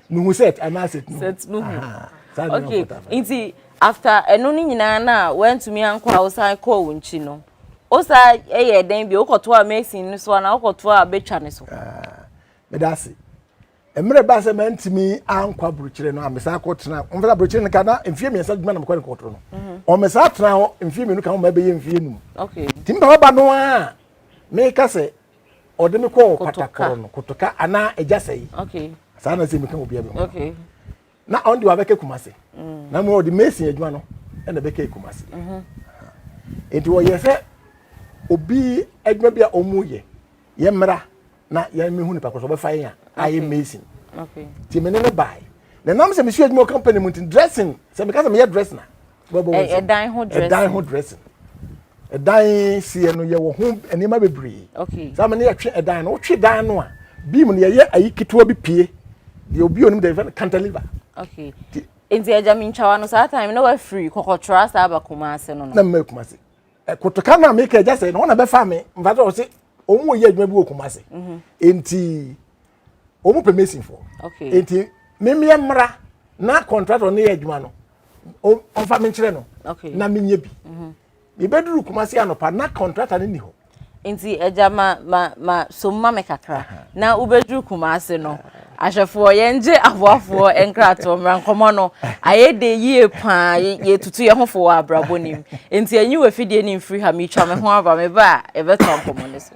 nuhu set anaa set nuhu okay nti after ɛno no nyinaa no a woantumi ankɔ a wosan kɔɔ wo nkyi no Wo sa yɛ dɛn bi? Wokɔtoa mason no so anaa wokɔtoa betwa no so? Ah, meda ase. Mmerɛ baa sɛ mantumi ankɔ aburokyire no a mesan kɔtena ɔmfa sɛ aburokyire no ka na mfeɛ mmiɛnsa adwuma na mekɔ ne kɔtoro no mhm. ɔmesan tena hɔ mfeɛ mmienu ka ho ma ɛbɛyɛ mfeɛ num nti mpa ɔba no a meka sɛ ɔde me kɔɔ patakoro no kotoka anaa agya sɛe saa na sɛ meka obia bi ho na ɔno deɛ wabɛka kumase mm. na mmom ɔde mason adwuma no ɛna ɛbɛka kumase mhm. nti wɔyɛ sɛ obi adwuma bi a ɔmu yɛ yɛ mmara na yɛn mehu nipa kɔ so ɔbɛfa yɛn a ayɛ mason nti mene ne bae na nam sɛ mesua adwuma wɔ company mu nti dressing sɛ meka sɛ meyɛ dressing a wobɛbɔ wo nsɛm ɛdan ho dressing ɛdan ho dressing ɛdan seɛ no yɛwɔ ho nneɛma bebree okay saa ma ne yɛtwe ɛdan no wotwe dan no a beam no yɛyɛ ayi ketewa bi pie deɛ obi onim deɛ yɛfɛ no cantilever okay nti agya mi ntwawa no saa time na wafiri kɔkɔtwerɛ saa aba kuma ase no no na mma kuma ase kotoka no a meka agya sɛ na wɔn na bɛfa me mfa sɛ wɔn sɛ wɔn yɛ adwuma bi wɔ kuma ase mhm. nti wɔn pɛ masonfoɔ nti memeɛ mmra na contractor no yɛ adwuma no ɔmfa me nkyerɛ no na menyɛ bi mhm. mebɛduru kuma se anɔpa na contractor no ni hɔ nti agya ma ma ma som ma me kakra na wobɛduru kuma ase no ahwɛfoɔ yɛngye aboafoɔ nkratoɔ mmra nkɔmmɔ no ayɛ de yie paa yɛtutu yɛ ho fo wɔ abrabɔ nim nti ɛnyi wɔ afidie ne mfiri ha metwa me ho aba meba a yɛbɛtɔ nkɔmmɔ no so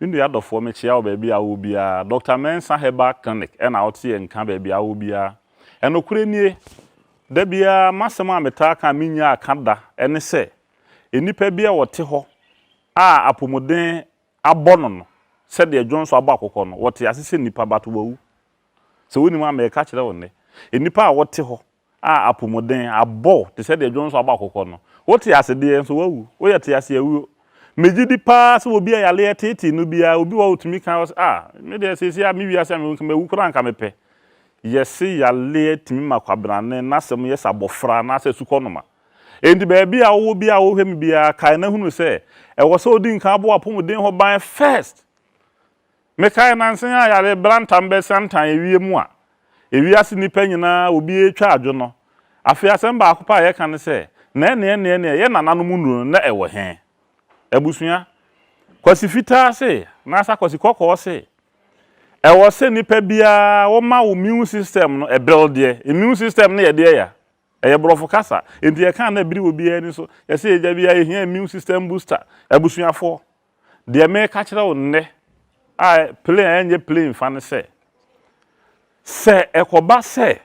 Me nua dɔfoɔ mekyea wo baabi a wowɔ biara Doctor Mensah Herbal Clinic ɛna woteɛ nka baabi a wowɔ biara Ɛnokorɛ nie Da biara masɛm a metaa ka a mennyaa ka da ɛne sɛ Nnipa bi a wɔte hɔ a apomuden abɔ no no sɛdeɛ dwonso abɔ akokɔ no wɔte ase sɛ nnipa but wɔawu Sɛ wonim a mereka kyerɛ wo nnɛ Nnipa a wɔte hɔ a apomuden abɔ wo te sɛ deɛ dwonso abɔ akokɔ no. Wote ase deɛ, nso woawu. Woyɛ te ase awuo. Megye di pa ara sɛ obi a yareɛ teetee no biara, obi wɔ hɔ a ɔtumi ka sɛ, Ah, me deɛ seesei a me wiase a mewɔ mu, nka mawu koraa anka mepɛ. Yɛse yareɛ tumi ma kwabenane no asɛm yɛ sɛ abɔfra anaasɛ asukɔnoma. Enti baabi a wowɔ biara a wohwɛ me biara, kae na hunu sɛ, ɛwɔ sɛ odi nkan bɔ w'apomuden ho ban first. Mekae nnansa yi a yare brantam bɛsan tan awiei mu a wiase nnipa nyinaa wɔ bi retwa adwo no. Afei asɛm baako pɛ a yɛka ne sɛ, Na ɛnneɛnneɛnneɛ, yɛn nananom nnuru no, na ɛwɔ he? Abusua, Kwasi Fitaa se, anaasɛ Kwasi Kɔkɔɔ se, Ɛwɔ sɛ nnipa biara woma wo 'mune system' no ɛberew deɛ. Immune system no yɛ deɛ ya. Ɛyɛ Borɔfo kasa, enti yɛka a na bere wɔ obiara ani so. Yɛse yɛagya bi a, yehia immune system booster. Abusuafoɔ, deɛ mereka kyerɛ wo nnɛ a plain a ɛnyɛ plain fa ne sɛ, sɛ ɛkɔba sɛ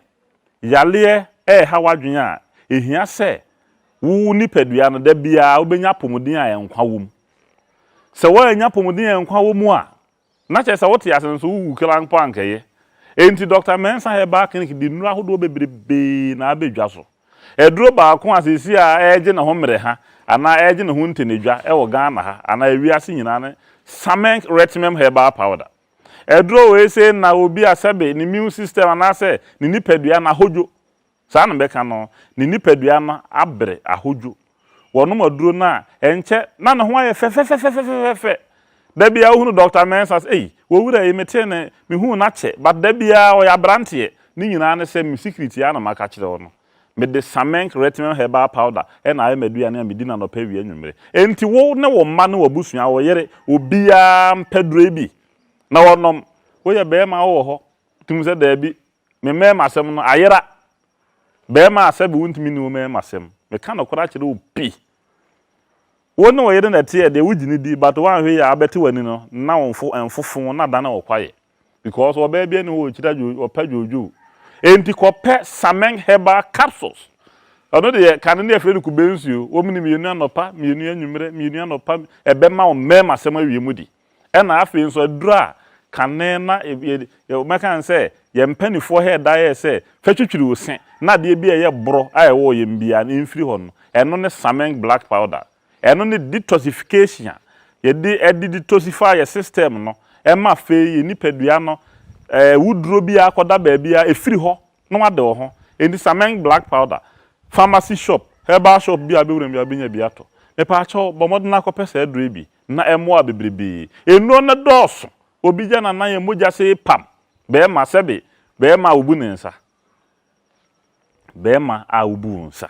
yareɛ reha w'adwene a, ehia sɛ wo nipadua no da biara wobɛnya apɔmuden a nkwa wɔ mu. Sɛ woannya apɔmuden a nkwa wɔ mu a, Na kyerɛ sɛ wote ase nso wowu kra mpo a anka eye. Enti Dɔkta Mensah herbal clinic de nnuru ahodoɔ bebrebe na abɛ dwa so. Aduro baako a seesei a ɛregye ne ho mmereha anaa ɛregye ne ho ntɛnɛdwa wɔ Ghana ha anaa wiase nyinaa ne Samenk Retimem Herbal Powder. Aduro wei sei nna obi a sɛbe ne immune system anaasɛ ne nipadua no ahodwo. Saa na mɛka no, ne nipadua no abere ahodwo. Wɔnom aduro no a, ɛnkyɛ na ne ho ayɛ fɛfɛfɛfɛfɛfɛfɛ. Da biara wohunu Dɔkta Mensah sɛ, Ei, w'awura yi, metee ne, mehuu no akyɛ, but da biara ɔyɛ aberanteɛ. Ne nyinaa ne sɛ, me secret yi ara na maka akyerɛ wo no. Mede Samenk Retinol Herbal Powder na ayɛ m'aduane a medi no anɔpa, awia, anwummere. Enti wo ne wo mma ne w'abusua, wo yere, obiara mpɛ duro yi bi na wɔnom. Woyɛ barima a wowɔ hɔ, wotim sɛ daabi, Me mmarimasɛm no ayera. Barima a sɛbe wontumi nni wo mmarimasɛm. Meka nokorɛ akyerɛ wo pi. Wo ne wo yere na ɛteɛ deɛ wogye no di but woanhwɛ yie a abɛte w'ani no na wo mfo ɛnfofo na adane wo kwaeɛ because ɔbaa biara nni hɔ a ɔkyira dwoo ɔpɛ dwoodwoo enti kɔpɛ Sameng herbal capsules ɛno deɛ kane no yɛfrɛ no kube nsuo wɔm no mmienu anɔpa mmienu anwummerɛ mmienu anɔpa ɛbɛma wo mmarimasɛm awie mu di. Ɛna afei nso aduru a kane na mɛka ne sɛ yɛn mpanifoɔ hɛ da yɛ sɛ fa twitwiri wo se na adeɛ bi a ɛyɛ borɔ a ɛwɔ wɔ yɛn biaa no mfiri hɔ no ɛno ne Sameng black powder ɛno ne detoxification a yɛde ɛde detoxify yɛ system no ɛma afei yɛn nipadua no ɛɛ awuduro biaa akɔda baabi a ɛfiri hɔ na wade wɔ ho enti Sameng black powder pharmacy shop herbal shop biaa bɛwura mu biaa wobɛnya bi atɔ mepaakyɛw bɔ mmɔden akɔpɛ saa aduro yi bi. na ɛmmoaa bebrebe. Nnuro no dɔɔso. Obi gya n'anan yɛ mogya sɛ pam. Bɛɛma sɛbe bɛɛma a wobu ne nsa. Bɛɛma a wobu wo nsa.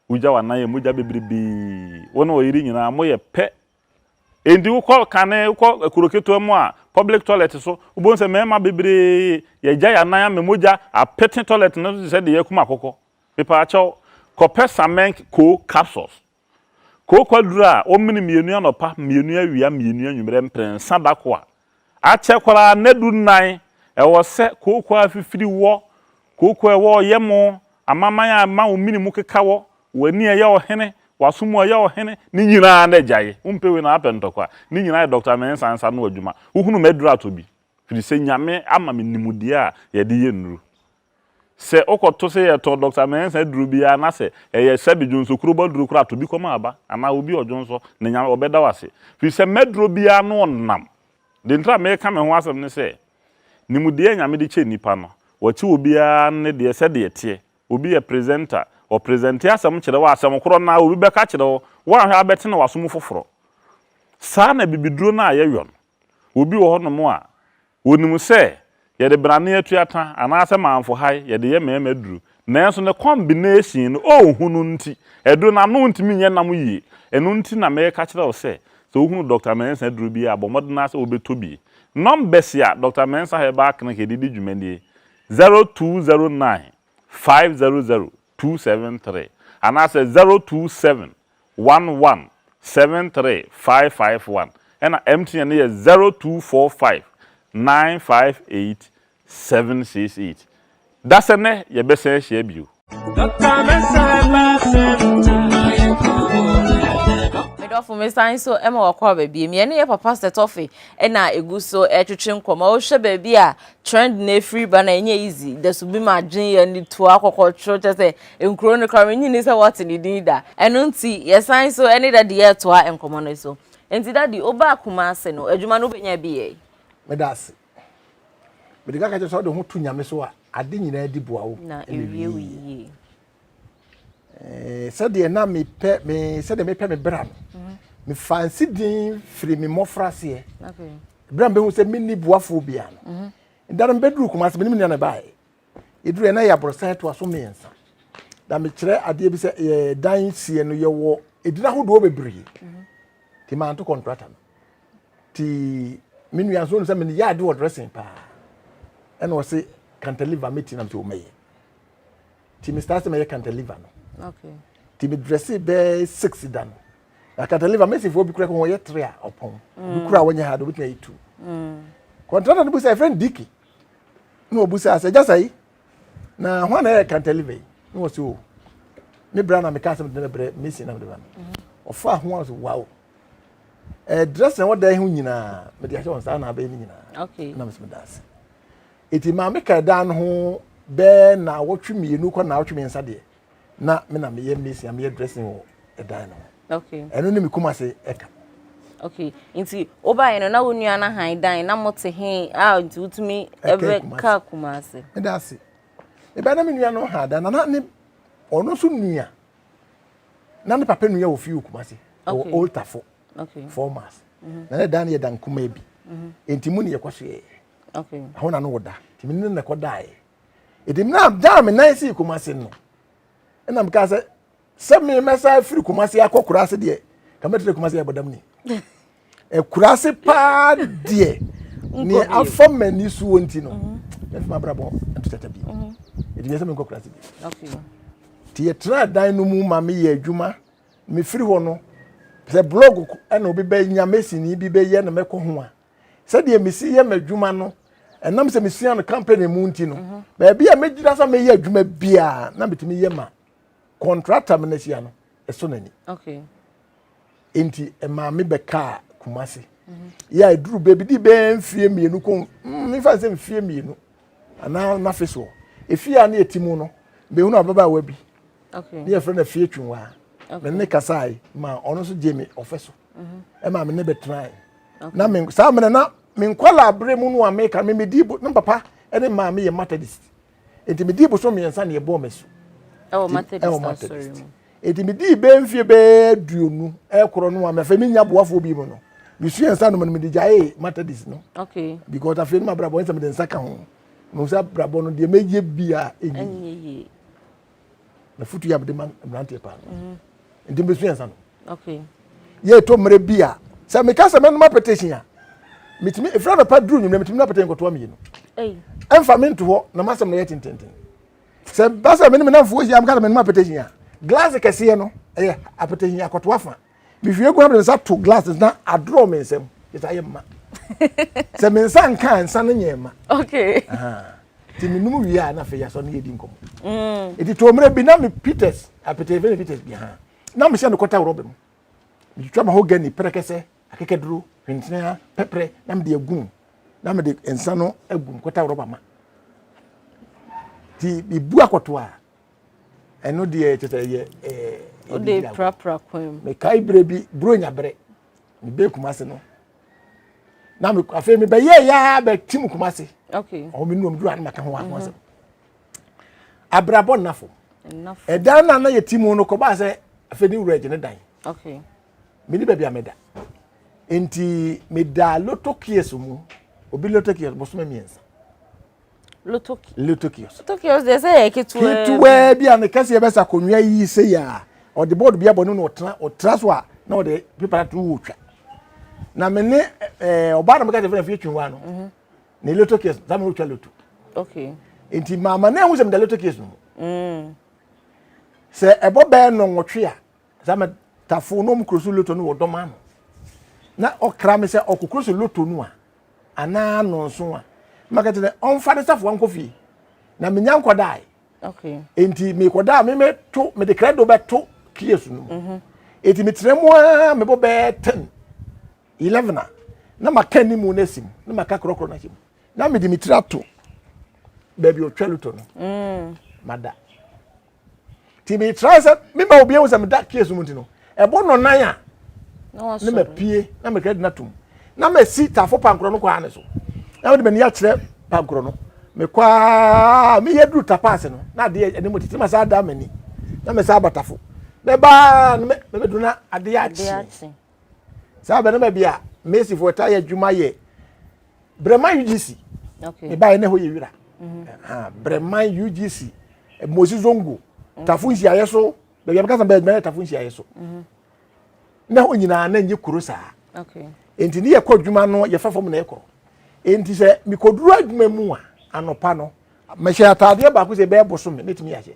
Wogya w'anan yɛ mogya bebrebe. Wo ne ɔyere nyinaa moyɛ pɛ. Enti wokɔ kane, wokɔ kuro ketewa mu a, public toilet so, wobɛhu sɛ mɛɛma bebree yɛgya yɛn anan ama mogya apete toilet no so te sɛ deɛ yɛakum akokɔ. Mepaakyɛw, kɔpɛ Samenk Co capsules Kookwa duru a wɔmene mmienu anɔpa, mmienu awia, mmienu anwummerɛ mprɛnsa da ko a, akyɛ koraa nnɛ du nnan. Ɛwɔ sɛ kookwa a afifiri wɔ, kookwa a ɛwɔ ɔyɛmo, amanaman a ɛma wo mene mu keka wɔ, w'ani a ɛyɛ ɔhene, w'aso mu a ɛyɛ ɔhene, ne nyinaa na agyae. Wompɛ wei na woapɛ ntɔkwa. Ne nyinaa yɛ Dɔkta Mensah nsa ano adwuma. Wohunu m'aduru atɔ bi, firi sɛ Nyame ama me nimdeɛ a yɛde yɛ nnuru. Sɛ wokɔto sɛ yɛtɔn Dɔkta Mensa aduru bi ara na sɛ ɛyɛ sɛbe dwonsɔkurobo aduru koraa a, to bi kɔma aba anaa obi a ɔdwonsɔ na Nyame, ɔbɛda wo ase. Firi sɛ m'aduro biara no ɔnam. Deɛ nti a meka me ho asɛm ne sɛ, nimdeɛ a Nyame de kyɛ nnipa no, wɔkyɛ obiara ne deɛ sɛdeɛ ɛteɛ. Obi yɛ presenter, ɔpresɛnte asɛm kyerɛ wo a, asɛm korɔ no ara obi bɛka akyerɛ wo, woanhwɛ a wobɛte no w'aso mu foforɔ. Saa na abibiduro no a yɛyɔ no. Obi wɔ hɔnom a, Wɔnim sɛ yɛde benane atuata anaasɛ mamfohae yɛde yɛ mmarima aduro, nanso ne combination no ɔnhu no nti, aduro no ano ntumi nyɛ nam yie. Ɛno nti na meka kyerɛ wo sɛ, sɛ wohunu Doctor Mensah aduro bi a, bɔ mmɔden ara sɛ wobɛtɔ bi. Numbers a Doctor Mensah Herbal Clinic de di dwuma nie, zero two zero nine five zero zero two seven three anaasɛ zero two seven one one seven three five five one ɛna MTN no yɛ zero two four five nine five eight seven six eight dasɛ nɛ yɛ bɛ sɛn hyia bio. Doctor Mensah Herbal Center. medɔfo me san so ma wakɔ aba biem yɛne yɛ papa sɛ tɔfe na egu so ɛtwetwe nkɔmɔ wohwɛ baabi a trend na efiri ba na ɛnyɛ easy da so bi ma adwene yɛ ne tua kɔkɔtoro kyɛ sɛ Nkuro no koraa mennye nni sɛ wɔte ne din da. Ɛno nti yɛsan nso ne Daddy retoa nkɔmmɔ no so. Enti Daddy, wobaa Kumasi no, adwuma no wobɛnya bi yɛe? Meda ase. Mede ka ka kyerɛ sɛ wode ho to Nyame so a, ade nyinaa di boa wo na ɛwie wo yie. Sɛdeɛ na mepɛ me sɛdeɛ mepɛ me bra no, mhm. mefa nsi din firi me mmɔfra aseɛ. Berɛ a mebɛhu sɛ menni boafoɔ biara no, mhm. da no mebɛduru Kumasi, menim nea na ɛbaeɛ. Yɛduru hɔ na ɛyɛ aborosan ɛtoa so mmiɛnsa. Na mekyerɛ adeɛ bi sɛ yɛ dan sie no yɛwɔ edin ahodoɔ bebree. Mhm. Ti maa nto kɔntrata no. Ti me nua nso sɛ mene yɛ ade wɔ dressing paa. Ɛna ɔse cantilever me ti nam sɛ ɔmɛyɛ. Ti me start sɛ mɛyɛ cantilever no. Okay. Ti me dresse bɛɛ six da no. Na cantilever mesifoɔ bi kura kɔ wɔyɛ three a ɔpɔn. Bi mm. kura wɔnyɛ ha de obetumi ayɛ two. Mm. Kɔntrata no bi sɛ ɛfrɛ no diki. na ɔbusaa sɛ gyasa yi na hwan na ɛyɛ kantaliva yi na wɔ sɛ o me bra na meka asɛm de no brɛ mesi na mede ba no mm-hmm. ɔfaa ho a sɛ wow ɛdrɛs na wɔda ho nyinaa mede ahyɛ wɔn saa na abɛyɛ no nyinaa na mesɛ meda ase ɛti maame ka ɛdan no ho bɛɛ na wɔtwe mmienu kɔ na wɔtwe mmiɛnsa deɛ na me na meyɛ mason a meyɛ dressing wɔ ɛdan no ho okay ɛno ne me kum ase ɛka okay nti wobaeɛ no na wo nua no han dan na mote he a nti wotumi ɛbɛ ka kum ase meda ase ɛbɛɛ na me nua no han dan na na ne ɔno nso nua na ne papa nua wɔ fie wɔ kum ase wɔ oltafo okay formas mhm. na ne dan no yɛ dan kuma bi mhm. nti mu ne yɛkɔ so yɛɛ ɛhɔ na no wɔ da nti me ne no na ɛkɔ daeɛ ɛdi mu na daa me nan sii kumase no ɛna mekaa sɛ sɛ me mɛsa firi kumase akɔ kurase deɛ ka mɛtena kumase abɔdam ni kurase paa deɛ ne afa m'ani soɔ nti no mhm. mɛfi mabrabɔ ntotɛtɛ bio mhm. ɛdi nyɛ sɛ menkɔ kurase bio nti yɛtena dan no mu ma meyɛ adwuma mefiri hɔ no sɛ blog ɛna obi bɛnya mesini bi bɛyɛ na mɛkɔ ho a sɛdeɛ mesi yɛ m'adwuma no ɛnam sɛ mesua no company mu nti no mhm. baabi a mɛgyina sɛ mɛyɛ adwuma biara na metumi yɛ ma contractor me no ahyia no ɛso n'ani nti ɛmaa me bɛkaa kumase mhm. yɛ a ɛduru baabi de bɛɛ mfie mmienu kɔ mm, mefa sɛ mfie mmienu anaa mafe soɔ ɛfie a ne ɛti mu no bɛhunu ababaawa bi ne yɛfrɛ no afie twinwaa me ne kasae ma ɔno nso gye me ɔfɛ so mhm. ɛma me ne bɛtenae na me saa mmerɛ na me nkwadaa abere mu no a meka me medi bo na papa ne maame yɛ methodist nti medi boso mmiɛnsa na yɛbɔɔ m'asu ɛwɔ methodist nti medi bɛɛ mfie bɛɛ aduonu ɛkorɔ no a mɛfɛ menya boafoɔ bi mu no mesua nsa nom no mede gyaee methodist no okay. because afei no mabrabɔ nsɛ mede nsa ka ho no sɛ abrabɔ no deɛ mɛyɛ bi a ɛnyɛ na futu yɛ abɛde ma mmeranteɛ paa mhm. nti mbɛsu yɛn nsa no yɛto mmerɛ bi a sɛ meka sɛ mɛnoma petition a metumi ɛfiri anɔpa duru nwummerɛ metumi na petition kɔtoa mmienu ɛmfa me nto hɔ na masɛm no yɛ tententen sɛ ba sɛ mene menamfoɔ hyia meka sɛ mɛnoma petition a glass kɛseɛ no ɛyɛ apetition akɔtoa fa mehwie gu na mede nsa to glass no na adorɔ me nsam kyɛ sɛ ayɛ mma sɛ me nsa nka a nsa no nyɛ mma nti menom wie a na afei yɛasɔ no yɛdi nkɔmmɔ mm. nti too mmerɛ bi na me peters apete fɛ ne peters bi ha na mehyɛ no kɔta worɔba mu metwitwa mahogany prɛkɛsɛ akekaduro hwentenea pɛprɛ na mede agum na mede nsa no agum kɔta worɔba ma nti mebu akɔto a ɛno deɛ kyɛ sɛ ɛyɛ wode prapra kwan mu mekae berɛ bi buronya berɛ mebɛ kuma se no na me afei mebɛyɛ yɛa bɛtim kuma se ɔmo me nuam duru ano maka ho ahoɔ sɛ abrabɔ nnafo ɛdan no a na yɛti mu no kɔbaa sɛ afei ne wura agye ne dan mene baabi a meda nti meda loto kies mu obi loto kies bosome mmiɛnsa Lutokios. Lutokios. Lutokios deɛ sɛ yɛ ketewa. Ketewa bi a ne kɛseɛ bɛ sa konwa yi se yɛ a ɔde bɔɔdo bi abɔ no na ɔtena ɔtena so a na ɔde pepa ato wɔ twa na me ne ɛɛ ɔbaa na meka sɛ fɛn fie twi wa no mhm. ne Lutokios saa mi ɔtwa luto. okay nti maama na ehu sɛ meda Lutokios no mu mm. sɛ ɛbɔ bɛɛ no nwɔtwe a saa mɛ tafo na ɔmo kuro so luto no wɔ dɔm ano na ɔkra mi sɛ ɔkokoro so luto no a. anaa nonso a maka kyerɛ ɔmfa ne safoa nkɔ fie na menya nkɔdae nti mekɔdaa me meto mede krɛdo bɛto kies no mu mhm. nti metrɛ mu a mebɔ bɛɛ 10 11 a na maka ne mu no asi mu na maka korɔkorɔ no ahyɛ mu na mede me tiri ato baabi ɔtwa lutɔ no mm. mada ti mi tra sɛ mi ma obi ehu sɛ mi da case mu ti no ɛbɔ nɔnan a ne ma pie na mi kɛ di na tum na ma si tafo pankorɔ no kɔ ha ne so na mi de ma ni akyerɛ pankorɔ no mi kɔ aa mi yɛ duru tapa ase no na adeɛ ɛni mu titi ma saa da ma ni na mi saa abatafo mɛ baa mɛ mɛ bɛ duru na adeɛ akyi saa bɛ ne ma bi a mɛ si fo ɛta yɛ adwuma yɛ. brɛman ugc mebaeɛ na ɛhɔ yɛ wira mhm. brɛman ugc eh, mosi zongo mhm. tafo nhyiaeɛ so baabi a mekasa bɛɛ tafo nhyiaeɛ so mhm. na hɔ nyinaa na nyɛ kuro saa enti ne yɛkɔ adwuma no yɛfa fam na yɛkɔ enti sɛ mekɔduru adwuma mu a anɔpa no mehyɛ ataadeɛ baako sɛ ɛbɛyɛ boso me mɛtumi ahyɛ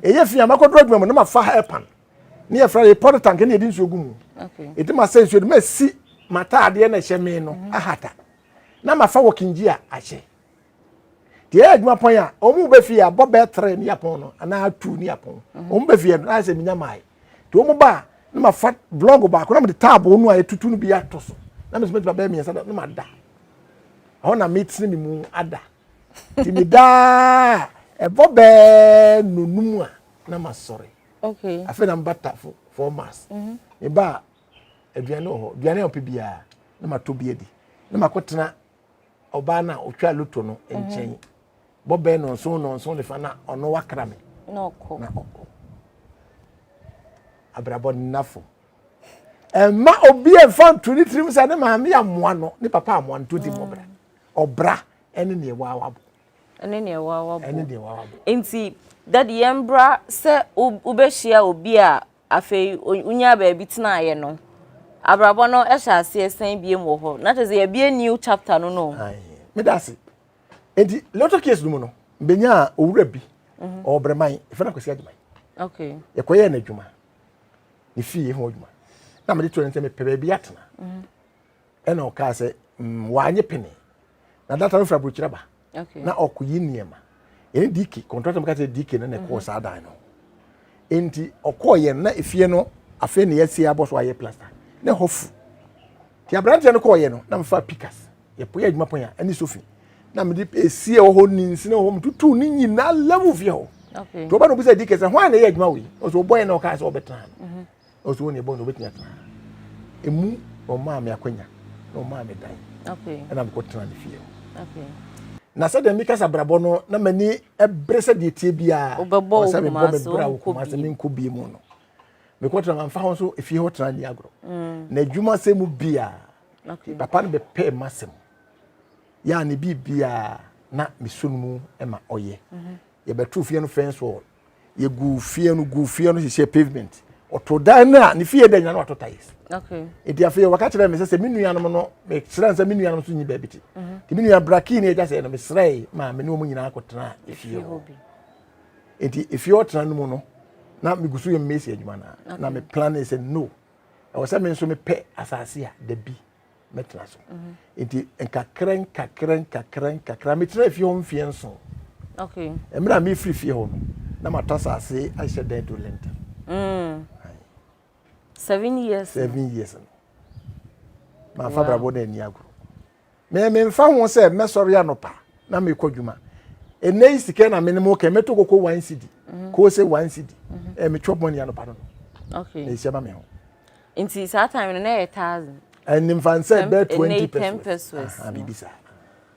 ɛyɛ fi a makɔduru adwuma mu na mafa hair pan ne yɛfrɛ no yɛpɔt tank ne yɛde nsuo gu mu ɛti ma sɛ nsuo de ma si mataadeɛ na ɛhyɛ me no mhm. ahata na mafa wɔ kingyi a ahyɛ deɛ ɛyɛ adwuma pɔn a wɔn bɛ fie a bɔ bɛɛ tere ne yapɔn no anaa tu ne yapɔn mhm. wɔn bɛ fie no ayɛ sɛ minya maae te wɔn ba a na ma fa blɔg baako na ma de taabo no a yɛtutu no bi ato so na ma sɛ mɛtuma bɛɛ mmiɛnsa na ma da ɛhɔ na mɛtene me mu ada te me daa ɛbɔ bɛɛ nonum a na ma sɔre Okay. Afei na mba tafo four months. Mhm. Meba a aduane wɔ hɔ. Aduane a ɔpɛ biara na matɔ bi adi. Na makɔtena ɔbaa no a ɔtwa loto no mhm. nkyɛn. Bɔbɛn nɔnson nɔnson ne fa na ɔno wakra me. Na ɔkɔ. Na ɔkɔ. Abrabɔ nnafo. Ɛmma obi mfa nto ne tirim sɛ ne maame amoa no, ne papa amoa no, to di mmɔbra. Mm. Ɔbra ɛne neɛ waawabo. ɛne deɛ wawa bo ɛne deɛ wawa bo nti dadi yɛn mbra sɛ wobɛhyia obi a afei wonya baabi tenaeɛ no abrabɔ no ɛhyɛ aseɛ sɛn biem wɔ hɔ na kyerɛ sɛ yɛbie new chapter no no meda ase nti lotto case no mu no mbɛnya owura bi mhm. ɔbrɛman ɛfɛ no akwasi adwuma okay. yɛkɔyɛɛ no adwuma ne fie ho adwuma na mede to ɛne sɛ mepɛ baabi atena mhm. Ɛna ɔkaa sɛ mm, wanye pene na data no firi aburokyerɛ ba na ɔkɔyi nneɛma ɛne dk kɔntrata mu ka sɛ dk no na ɛkɔɔ mhm. saa dan no nti ɔkɔɔ yɛn na efie no afei na yɛasie abɔ so ayɛ plaster na ɛhɔ fu nti aberanteɛ no kɔɔ yɛ no na mefa pikas yɛpoyɛ adwuma pɔn a ɛne sofi na mede esie wɔ hɔ ne nsina wɔ hɔ metutu ne nyinaa level fie hɔ nti ɔba na obi sɛ dk sɛ hwan na ɛyɛ adwuma wei ɔsɛ ɔbɔ yɛn na ɔkaa sɛ ɔbɛtena no mhm. Ɔsɛ wɔn yɛ bɔn na obetumi atena ha. Emu na ɔmaa me akwanya na ɔmaa me dan. Ɛna mekɔ tena ne fie hɔ. Na sɛ deɛ mekasa brabɔ no na m'ani bere sɛ deɛ tie biara. Ɔsɛ mebɔ me bra wɔ kuma sɛ menkɔ bie mu no. Mekɔ tena mamfa ho nso efie hɔ tena ni agorɔ. Mm. Na adwuma sɛ mu biara. Papa no bɛpɛɛ m'asɛm. Yɛ a ne biribiara na meso no mu ma ɔyɛ. Mhm. Yɛbɛto fie no fɛn soɔ. yɛ gu fie no gu fie no hyehyɛ pavement ɔto dan no a ne fie dɛ nya no wato tiles nti afei wɔka kyerɛ me sɛ sɛ me nuanom no mekyerɛ sɛ me nuanom so nyi baabi te mhm. nti me nua brakii ne agya sɛ no mesrɛe maa me ne wɔn nyinaa kɔtena efie hɔ nti efie ɔtena no mu no na megu so yɛ mmesi adwuma no na me plan sɛ no ɛwɔ sɛ me nso mepɛ asase a da bi mɛtena so nti nkakra nkakra nkakra nkakra metena fie hɔ mfeɛ nson mmerɛ a mefiri fie hɔ no na matɔ asase ahyɛ dan to lenta mm. seven years seven years no mafa brabɔ no ani agoro me memfa ho sɛ mɛsɔre anɔpa na mekɔ adwuma ɛnɛ yi sika na mene mo kɛ mɛtɔ koko one cd mhm. koo sɛ one cd mhm. eh, metwɔ bɔne anɔpa no no na ɛhyɛ ma me ho Nti saa time no na ɛyɛ thousand. Ɛnni nfa nsɛ bɛɛ twenty ten pesos. Aha bibi saa.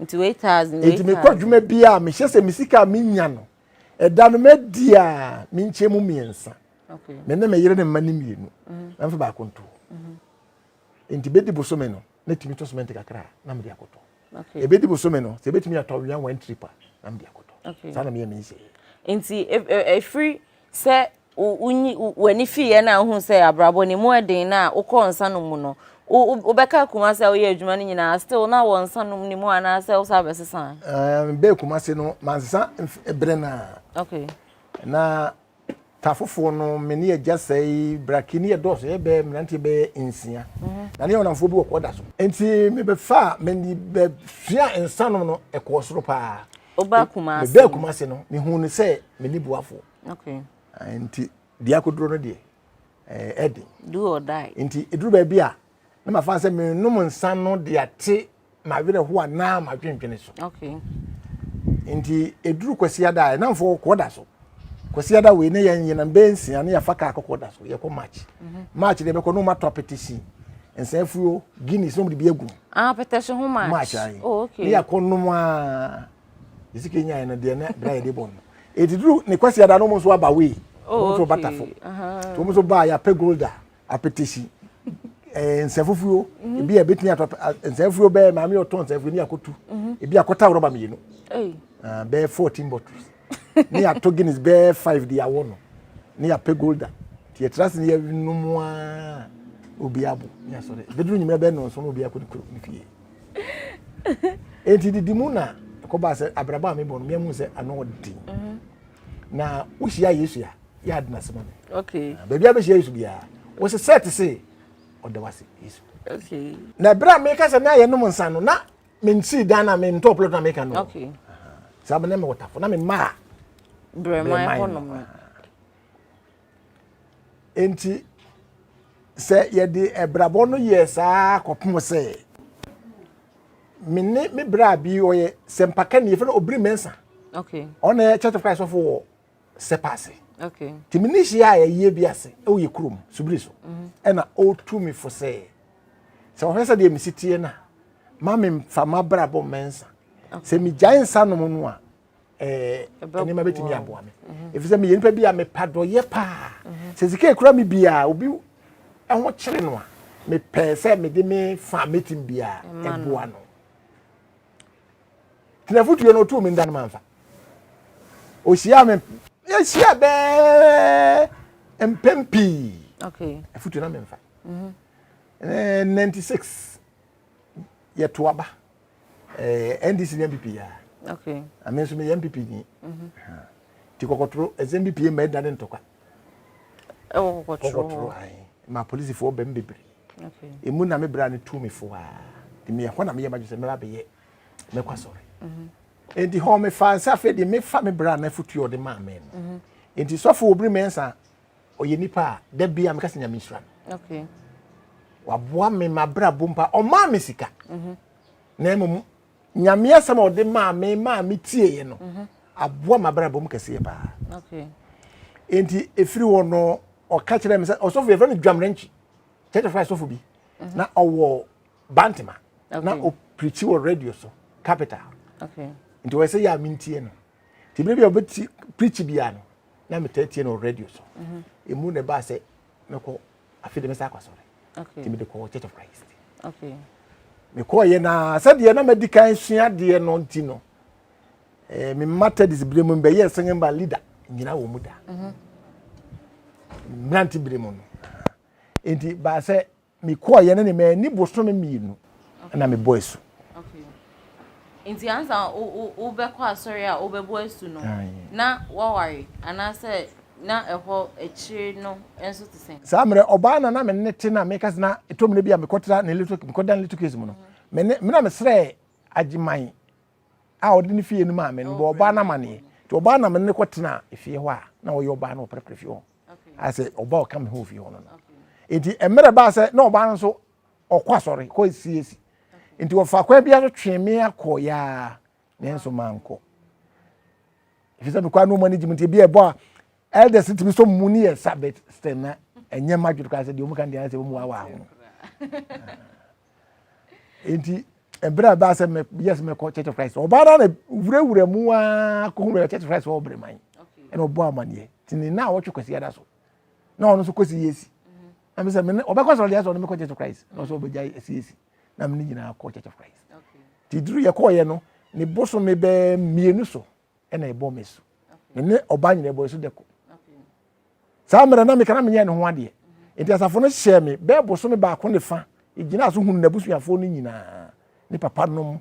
Nti wei thousand wei thousand. Nti mi kɔ adwuma bi a mi hyɛ sɛ mi sika mi nya no ɛda no mɛ di a mi nkyɛn mu mmiɛnsa. Okay. Me ne me yere ne mma ne mmienu. Mhm. Mɛ nfa baako nto. Mhm. Nti bɛ di bosome no na tumi tɔ sumɛnti kakra na mi de akɔtɔ. ɛbɛdi bosome no sɛ ɛbɛtumi atɔ wea one trip a na mede akɔtɔ saa na meyɛ mensɛ nti ɛfiri e, e, sɛ w'ani fiiɛ no a wohu sɛ abrabɔ ne mu ɛden no a wokɔ nsa no mu no wobɛka kuma sɛ woyɛ adwuma no nyinaa still na wɔ nsa nom ne mu anaasɛ wo sa bɛsesa bɛɛ kuma se no mansa berɛ no a na ta foforɔ no me ne agya sɛe braki ne yɛdɔɔso yɛbɛɛ mmeranteɛ bɛyɛ nsia na ne yɛ ɔnamfoɔ bi wɔ kɔda so nti mebɛfa a meni bɛsua nsa nom no ɛkɔɔ soro paa mebɛɛ kuma se no mehu no sɛ meni boafoɔ nti deɛ akoduro no deɛ ɛden nti ɛduru baabi a na mafa sɛ menom nsa no de ate m'awerɛhoɔ a na madwendwene so nti ɛduru kwasiada a ɛnamfoɔ kɔɔ da so kwasiada wei ne yɛn yɛnam bɛɛ nsia ne yɛfa kaa kɔkɔɔ da so yɛkɔ march mhm. march deɛ bɛkɔ ne ɔmatɔ apɛtɛsi nsa afuo guinness na ɔmde bi agu ah, apɛtɛsi ho march march ayi oh, ne yɛakɔ nom a ɛsika nyaɛ no deɛ na bra yɛde bɔ no ɛdiduru ne kwasiada no mu nso aba wei wɔn nso batafo wɔn nso baa yɛapɛ golda apetesi ɛɛ nsɛfufuo mhm. ebi a ebetumi atɔ nsɛfufuo bɛɛ maame yɛ ɔtɔ nsɛfufuo ni akotu mhm. ebi akɔta rɔba mmienu ah, bɛɛ fourteen bottles ne yɛatɔ guinness bɛɛ five de awɔ no ne yɛapɛ golda nti yɛtra ase ne yɛnom a obi abo ne asɔre bɛduru nyimmerɛ bɛɛ nɔnso no obi akɔ ne kuro ne fie enti didi mu na ɛkɔbaa sɛ abrabɔ a mebɔ no meamu sɛ ano ɔden mhm. na wohyia yesu a yɛ ade no ase ma me baabi a bɛhyia yesu biara wose sɛ te se ɔda w ase yesu na ɛberɛ a meka sɛ na yɛnom nsa no na mensii dan no a mentɔɔ plot no a meka no saa bɛnɛ me wɔtafo na memaa brɛman hɔnom Enti sɛ yɛde abrabɔ no yɛ saa kɔpem sɛ me ne me bra bi ɔyɛ sɛmpaka ni yɛfrɛ no obiri mɛnsa okay ɔna yɛ church of christ ɔfo wɔ sɛpa ase okay nti me ne hyia a yɛyɛ bi ase ɛwɔ yɛ kurom subiri so mhm. ɛna ɔtu me fo sɛ sɛ ɔhwɛ sɛ deɛ mesi tie no a ma memfa mabrabɔ mɛnsa sɛ megyae nsa nom no a eh, nneɛma bɛtumi aboa me mhm. ɛfiri sɛ meyɛ nipa bi a mepa dɔyɛ paa mhm. sɛ sika ɛkura me biaa obi ɛho kyere no a mepɛɛ sɛ mede me fa mɛtim biaa ɛboa no tenafotuo no ɔtoo me nda no mamfa ɔhyia me yɛhyia bɛɛ mpɛm pii afotuo no memfa 96 yɛto aba eh, ndc ne mpp ya okay. ame nso meyɛ mpp ni mhm. nti kɔkɔtoro ɛsɛ mpp ma ɛda ne ntɔkwa ɛwɔ kɔkɔtoro ma polisifoɔ bɛm bebree ɛmu na me bra no tu me foa nti meyɛ hɔ na meyɛ madwe sɛ mɛba bɛyɛ mɛkɔ asɔre mhm. nti hɔ mefa sɛ afei deɛ mefa me bra no afotuo ɔde maa me no mhm. nti sɔfo wɔbiri mɛnsa ɔyɛ nipa a da bia meka sɛ nyame nhyira no okay. waboa me mabrabɔ mpa ɔmaa me sika mm -hmm. na mmom nyame asɛm a ɔde maa me maa me tieeɛ no mm -hmm. aboa mabrabɔ m kɛseɛ paa okay. enti ɛfiri hɔ no ɔka kyerɛ me sɛ ɔsɔfo yɛfrɛ no dwamrɛnkyi church of christ sɔfo bi mm -hmm. na ɔwɔ bantema okay. na ɔpirikyi wɔ radio so capital okay. nti ɔyɛ sɛ yɛ a mentie no nti bere bi a ɔbɛti preach bia no na metaa tie no radio so ɛmu na ɛbaa sɛ mɛkɔ afei de mɛsa akɔsɔre nti mede kɔɔ church of christ mekɔɔyɛ na sɛdeɛ na madi kan sua deɛ no nti no eh, me matadis bere mu mbɛyɛ singing band leader nyina wɔ mu da mmerante bere mu no nti baa sɛ mekɔɔeɛ no ne manni bosome mmienu na mebɔ asu. Nti ansa wobɛkɔ asɔre a wobɛbɔ asu no, na woaware anaasɛ na ɛhɔ akyire no nso te sɛn? Saa mmerɛ ɔbaa na na me ne te na meka sɛ na ɛtɔ mmerɛ bi a mekɔtra ne little mekɔda ne little case mu no me ne me na mesrɛ agyeman a ɔde ne fie no maa me no bɔ ɔbaa no amaneɛ nti ɔbaa na me ne kɔtena efie hɔ a na ɔyɛ ɔbaa na ɔpɛrɛpɛrɛ fie hɔ. asɛ ɔba ɔka me ho ofie hɔ no no nti mmerɛ baa sɛ na ɔbaa no nso ɔkɔ asɔre kɔ esiesi nti wɔfa kwan bi aso twe me akɔ yaa nanso mankɔ ɛfiri sɛ mekɔ anoma no gyim nti ebi ɛbɔ a elders tumi sɔ mu ne yɛ sabet sɛ na ɛnyɛ ma dwere koraa sɛ deɛ ɔmu ka deɛ sɛ ɔmu awa ho nti ɛberɛ a ɛbaa sɛ meyɛ sɛ mɛkɔ church of christ ɔbaa no na wurawura mu aa kɔhunu church of christ wɔ ɔbrɛ man ɛna ɔbɔ amaneɛ nti ne na awɔtwe kwasi ada so na ɔno nso kɔsi yɛ si na mesɛ mene ɔbɛkɔ sɔrɔ deɛ sɛ ɔno mekɔ church of christ na ɔsɛ ɔbɛgya ɛsi yɛ si na mene nyinaa kɔ church of christ nti duru yɛkɔɔyɛ no ne bosome bɛɛ mmienu so ɛna ɛbɔ me so me ne ɔbaa nyina ɛbɔ so dɛko saa mmerɛ na meka na menyɛ ne ho adeɛ nti asafo no hyɛɛ me bɛɛ boso me baako ne fa ɛgyina so hunu n'abusuafoɔ no nyinaa ne papa nom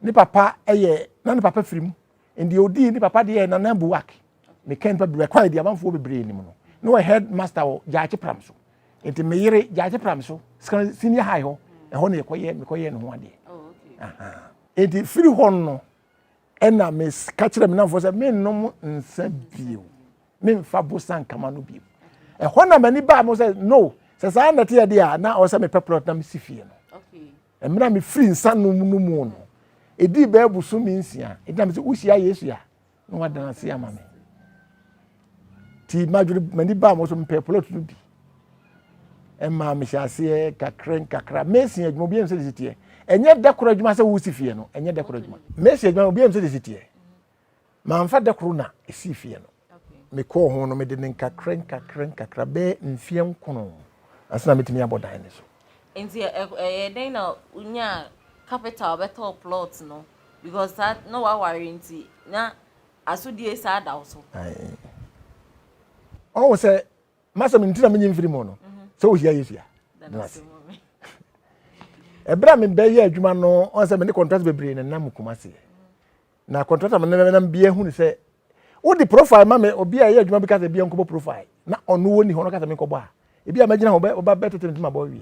ne papa ɛyɛ na ne papa firi mu ndeɛ ɔdii ne papa deɛ na nan buwak meka nipa bebree kɔ adi amanfoɔ bebree nim no na wɔ head master wɔ gyaakye pram so nti me yere gyaakye pram so senior high hɔ ɛhɔ na yɛkɔyɛ mekɔyɛ ne ho adeɛ oh, nti firi hɔ no ɛna meka kyerɛ me namfoɔ sɛ mennom nsa bio memfa bosa nkama no bio ɛhɔ na m'ani baa mo sɛ no sɛ saa na ɛteɛ deɛ a na ɔwɔ sɛ mepɛ plot na mesi fie no mmerɛ a mefiri nsa nom no mu no ɛdii bɛɛ boso me nsia ɛdina me sɛ wohyia yesu a na wadana ase ama me nti madwene m'ani baa mo so mepɛ plot no bi ɛmaa mehyɛ aseɛ kakra nkakra mesi adwuma obi ɛnsɛ sisi teɛ ɛnyɛ dɛkoro adwuma sɛ wosi fie no ɛnyɛ dɛkoro adwuma mesi adwuma obi ɛnsɛ sisi teɛ manfa dɛkoro na esi fie no mekɔɔ ho no mede ne nkakra nkakra nkakra bɛɛ mfeɛ nkono asena metumi abɔ dan ne so nti ɛyɛ dɛn na wonya capital bɛtɔ plot no because na waware nti na Asodie saa da wo so. Ɔwɔ sɛ masɛm nti na menye mfiri mu no sɛ wohyia Yesu a dena ase. Ɛberɛ a mebɛyɛ adwuma no ɔn sɛ mene kɔntrat bebree na nam kuma seɛ na kɔntrat a mene nam bia hunu sɛ wode profile ma me obi a ɛyɛ adwuma bi ka sɛ bia nkɔbɔ profile na ɔno wɔ ni hɔ no ka sɛ menkɔbɔ a ebi a mɛgyina hɔ bɛ ɔba bɛ tete ntoma bɔ wie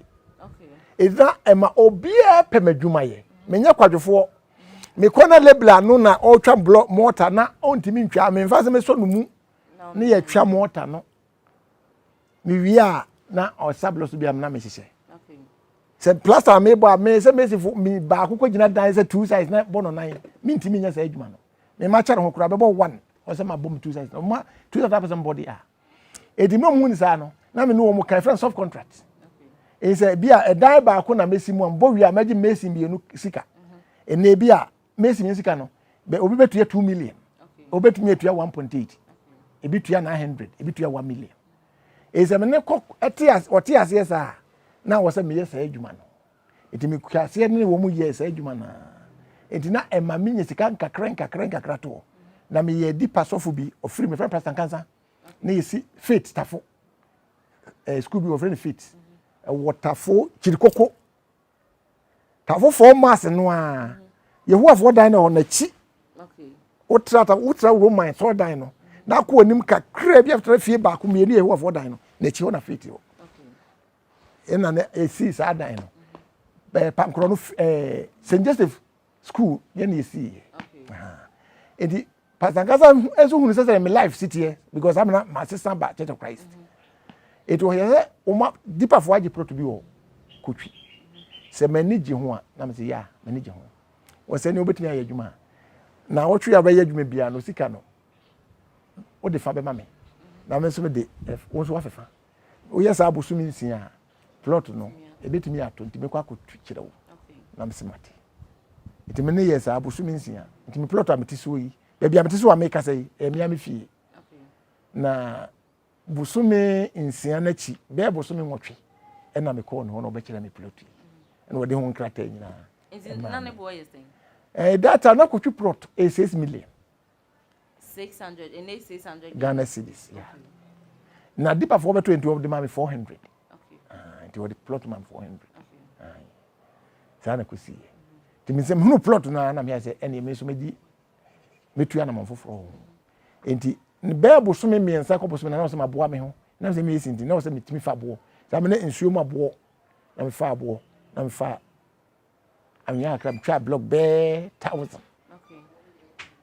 ɛdina ɛma obiara pɛ m'adwuma yɛ menyɛ kwadwofoɔ mekɔ na lebla no na ɔretwa blɔ mɔta na ɔntumi ntwa memfa sɛ mesɔ no mu ne yɛtwa mɔta no mewie a na ɔsa blɔ so bi a na mehyehyɛ sɛ plaster a mebɔ a me sɛ mesifo me baako kɔ gyina dan sɛ two size na bɔ no nan mentumi nyɛ saa adwuma no mema kyɛre ho koraa bɛbɔ one ɔsɛ mabɔ me two size na ɔma two size apɛ sɛ mbɔ de a eti na wɔn ni saa no na me ne wɔn ka efrɛ soft contract ɛyi sɛ ebi a ɛdan baako na mesi mu a mbɔ wia mɛgye mesi mmienu sika ɛna mhm. ebi a mesi mmienu sika no bɛ obi bɛ tuya two million obi tumi etuya one point eight ebi tuya nine hundred ebi tuya one million ɛyi sɛ me ne kɔ ɛte ase ɔte aseɛ saa na wɔsɛ meyɛ saa adwuma no. Enti mekɔhyɛɛ aseɛ ne wɔn yɛɛ saa adwuma no ara. Enti na ɛma menya sika nkakrankakra toɔ. Na meyɛɛ Dipa sɔfo bi, ɔfiri, mefrɛ no Pastor Nkansa, na yɛsi Faith Tafo, eh, sukuu bi wɔfrɛ no Faith, ɛwɔ Tafo Kyirikoko. Tafofoɔ maase no a, Yehowafoɔ dan no wɔ n'akyi. Wotra ta wotra Roman sɔɔdan no, na akɔ anim kakra bi after fie baako mmienu Yehowafoɔ dan no, n'akyi hɔ na Faith wɔ. ɛna na ɛsii saa dan no ɛɛ pankorɔ no ɛɛ st joseph school yɛn na ɛsii yɛ nti pastor nkasa nso hunu sɛ sɛ me life si teɛ because amena ma sesa ba church of christ ɛti ɔyɛ sɛ ɔma dipafoɔ agye plot bi wɔ kotwi sɛ m'ani gye ho a na mesɛ yɛ a m'ani gye ho wɔ sɛ ne wobɛtumi ayɛ adwuma a na wɔtwe a bɛyɛ adwuma biara no sika no wode fa bɛma me na me nso mede eh, wo nso wafefa Woyɛ saa bosome nsia a, plot no ebetumi ato nti mekɔ akɔtu kyerɛ wo na mese mate. Nti me ne yɛ saa bosome nsia. Nti me plot a mete soɔ yi, baabi a mete soɔ a mekasa yi, ɛyɛ mmea me fie. Na bosome nsia no akyi, bɛyɛ bosome nwɔtwe, ɛna mekɔɔ ne hɔ na ɔbɛkyerɛ me plot yi. Ɛna ɔde ho nkrataa nyinaa. Nti na ne boɔ yɛ sɛn? Eh, data na kɔtwi plot ɛyɛ six million. six hundred ɛnna yɛ six hundred ghana cedis ya na dipafoɔ bɛtɔ nti wɔde maa mi four hundred ah, nti wɔde plot maa mi four hundred ah, saa na kɔsi yɛ nti mi nsɛm hunu plot no ara na mi ayɛ sɛ ɛnna mi nso mi di mi tu anamɔn foforɔ ho nti bɛɛ bosome mmiɛnsa kɔ bosome na na ɔsɛ ma boa mi ho na ɔsɛ mi yɛ si nti na ɔsɛ mi tumi fa boɔ saa mi ne nsuo mu aboɔ na mi fa aboɔ na mi fa. anwea kakra metwaa blɔk bɛɛ thousand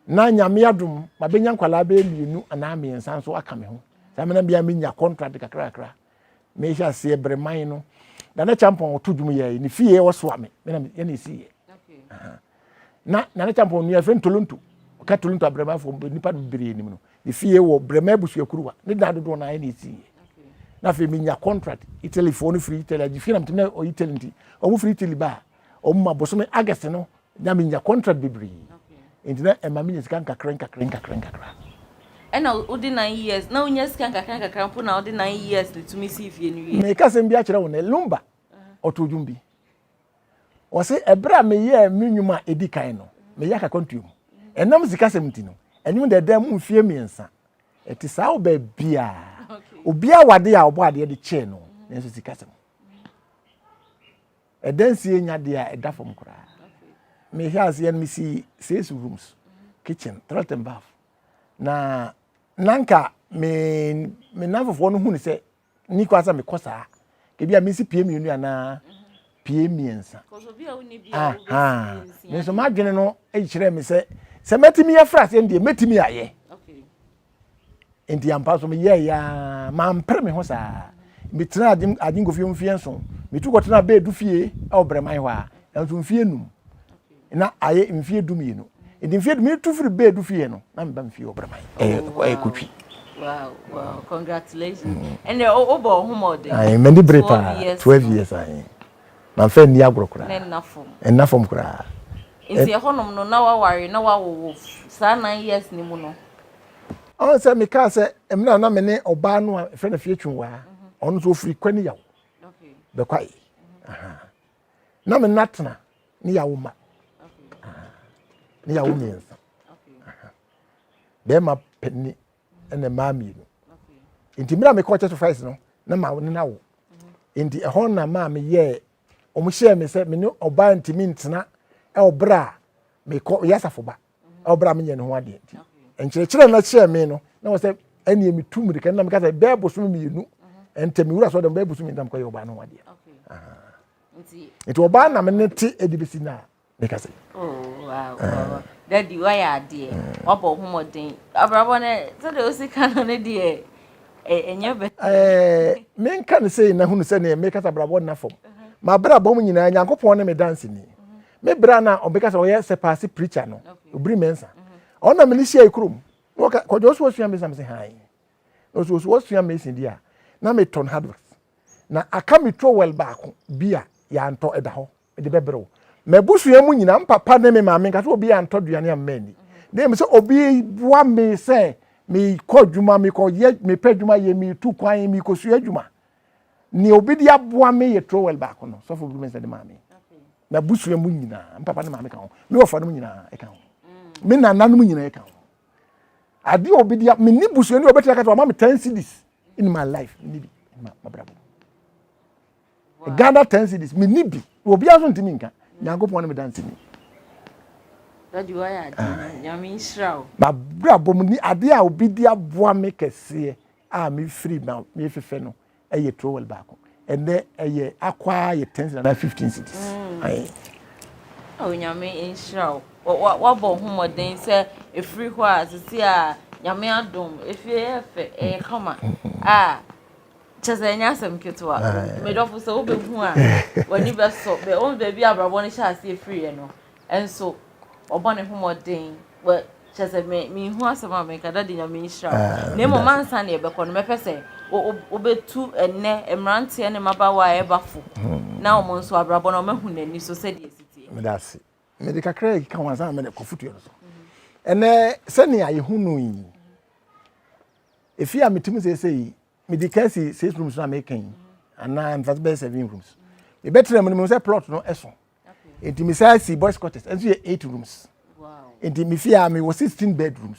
na nyame adom mabɛnya nkwalaa bɛyɛ mmienu anaa mmiɛnsa nso aka me ho saa mena bia menya contract kakra kakra mehyɛ aseɛ bere man no nana champɔn ɔto dwom yɛ ne fie ɔsoa me mena yɛne ɛsiiɛ na nana champɔn nua fɛ ntolonto ɔka tolonto abrɛmafo nipa no bebree nim no Mefie wɔ Brema abusua kuruwa ne dan dodoɔ naa ɛna ɛsiiɛ na afei menya contract Italy foɔ no firi Italy agye fie na metim na ɔ Italy nti ɔmo firi Italy ba ɔmo ma bosome August no na menya contract bebree nti na ɛma menya sika nkakra nkakra nkakra nkakra. Ɛna wode nine years na wonya sika nkakra nkakra mpo na wode nine years ne tumi sii fie no wie. Meka asɛm bi akyerɛ wo nɛ Lumba ɔtoo dwom bi Ɔse, Ɛberɛ a meyɛɛ me nnwuma a ɛdi kan no, meyɛ akakwantuo mu. Ɛnam sikasɛm nti no, anim dɛɛdɛɛ mu mfeɛ mmiɛnsa. Ɛte saa wɔ baabiara. Obiara wɔ adeɛ a ɔbɔ adeɛ de kyɛɛ no, nanso sikasɛm. Ɛdansie nyɛ adeɛ a ɛda fam koraa. Mehwɛ aseɛ no, mesi six rooms, kitchen, toilet and bath. Na na nka me me nanfofoɔ no hu no sɛ ni kwan sɛ mekɔ saa ebi a mesi pie mmienu anaa pie mmiɛnsa me nso m'adwene no kyerɛ me sɛ sɛ mɛtumi afra aseɛ no deɛ mɛtumi ayɛ nti ampa so meyɛɛ yɛa mampere me ho saa metena agyenkofie mfeɛ nso metu kɔtena bɛɛdu fie ɛwɔ brɛman hɔ a ɛnso mfeɛ num Nna ayɛ mfie dumienu. Ntsi mfie du, metu fir baa du fie no, na mebam fie wɔ Bremai. Ɔyɛ Kotwi. Wow, wow, congratulations. Mm. And uh, oh, oh, home all day. Aye, men di break pa. 12 years aye. Man fe ni agro kura. Men na fom. En na fom kura. Nti e honom no na wa wari na wa wowo saa 9 years ni mu no. On se me ka se em na na me ne oba no a fe na fie twun wa. Ono so ofri kwani yaw. Okay. Be kwai. Aha. na me nna tena ne yawo ma ne yawo mmiɛnsa bɛrima panyin ɛna mmaa mmienu nti mmerɛ a mekɔ church of christ no na ma ne na wo mhm. nti ɛhɔ na maa me yɛ wɔn hyɛɛ me sɛ me ne ɔbaa ntumi ntena ɛwɔ berɛ a mekɔ yɛ asafo ba na ɔbra menyɛ ne ho adeɛ nti nkyerɛkyerɛ na kyerɛ me no na wɔ sɛ ɛneɛ metu mmirika no na meka sɛ bɛɛ bosome mmienu ɛntɛ mewura sɛ ɔdɛm bɛɛ bosome mmienu na mekɔyɛ ɔbaa no ho adeɛ nti ɔbaa na mene te ɛde bɛsi no a meka sɛ dadi wayɛ adeɛ wabɔ wo homɔden abrabɔ no sɛdeɛ wosi ka no no deɛ ɛnyɛ bɛ menka no sei na hunu sɛneɛ mekasa brabɔ nna fam mabrabɔ mu nyinaa nyankopɔn ne me danseni Me bere a na ɔbɛka sɛ ɔyɛ sɛpaase preacher no, obiri mɛnsa. Ɔno na me ne hyia ekurom. Na ɔka kɔjɔ ɔso ɔsua mɛnsa me se han. Na ɔso ɔso ɔsua mɛnsa di a na me tɔn hardware. Na aka me trowel baako bi a yantɔ ɛda hɔ me de bɛbere wo. Mɛbusua mu nyina, me papa ne me maame nka sɛ obi antɔ duane amma ani. Na emu sɛ obi boa me sɛ me kɔ adwuma, me kɔ yɛ, me pɛ adwuma yɛ, me tu kwan, me kɔ sua adwuma. nea obi de aboa me yɛ trowel baako no sɔfo bi mɛsɛ de maa me na busua mu nyinaa mpapa ne maame ka ho me wɔfa no mu nyinaa ɛka ho me nana no mu nyinaa ɛka ho adeɛ obi de me ni busua ni obetumi akata ɔma me ten cities in my life me ni bi in my mabrabo ghana ten cities me ni bi obi aso ntumi nka nyankopɔn ne me dansi ni. Dadi wa yɛ adi nyame nhyira o. Mabrabo mu ni adeɛ a obi de aboa me kɛseɛ a mefiri na mefefɛ no yɛ trowel baako ɛnɛ ɛyɛ akwaa yɛ ten na fifteen cities. Mm. onyame oh, nhyira wo wabɔ ho mmɔden sɛ ɛfiri hɔ a sisi a nyame adom ɛfie yɛ fɛ ɛyɛ kama a kyɛ sɛ ɛnyɛ asɛm ketewa medɔfo sɛ wobɛhu a w'ani bɛsɔ baabi a abrabɔ no hyɛ aseɛ firiɛ no nso ɔbɔ ne ho mmɔden wɔ kyɛ sɛ me mehu asɛm a meka dade nyame nhyira wo ah, na mmom ansa na yɛbɛkɔ no mɛpɛ sɛ wobɛtu ɛnnɛ mmeranteɛ ne mmabaawa a ɛba fo hmm. na wɔn nso abrabɔ no ɔmahu n'ani so sɛdeɛ ɛsitie meda ase mede kakra yi ka ho ansa na mede kɔfotuo no so ɛnɛ sɛnea yɛhu no yi ɛfie a metim seesei mede ka si six rooms no a meka yi anaa mfa sɛ bɛyɛ seven rooms yɛbɛtena mu no mu sɛ plot no ɛso nti me saa si boys quarters ɛnso yɛ eight rooms nti me fie a me wɔ sixteen bedrooms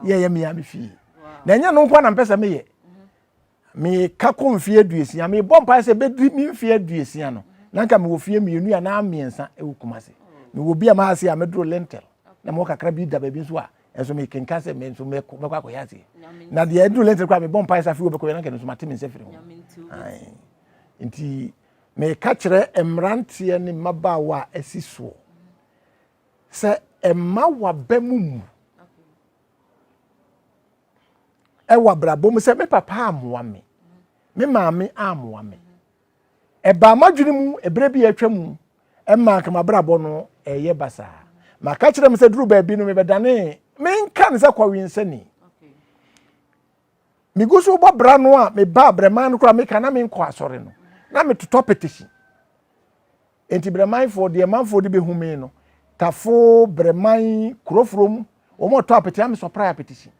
yɛ yɛ mia me fie na ɛnyɛ no nko na mpɛ sɛ meyɛ mhm. me ka kɔ mfie aduosia me bɔ mpae sɛ bɛdiri me mfie aduosia no na nka mewɔ fie mmienu a na mmiɛnsa ɛwɔ kuma se mewɔ bi a maa ase a mɛduro lentil na mewɔ kakra bi da baabi nso a ɛnso mekenka sɛ me nso mɛkɔ akɔyɛ aseɛ na deɛ ɛduro lentil koraa mebɔ mpae sɛ afei wɔbɛkɔyɛ na nka no nso mate me nsa firi ho nti Meka kyerɛ mmeranteɛ ne mmabaawa a asi soɔ sɛ ɛma waba mu mu ɛwɔ abrabɔ mu sɛ me papa amoa me me maame amoa me ɛbaa m'adwene mu ɛberɛ bi atwa mu ɛmaa kama abrabɔ no ɛyɛ basaa maka kyerɛ m sɛ duru baabi no mebɛdane menka ne sɛ kɔwe nsani Megu so bɔ bra no a meba abrɛman no koraa meka na menkɔ asɔre no, na metotɔ petesi. Enti brɛmanfoɔ deɛ manfoɔ de bɛhu me no, Tafo, Brɛman, Kurofuro mu, wɔn ɔtɔ apete na mesɔprae apetesi.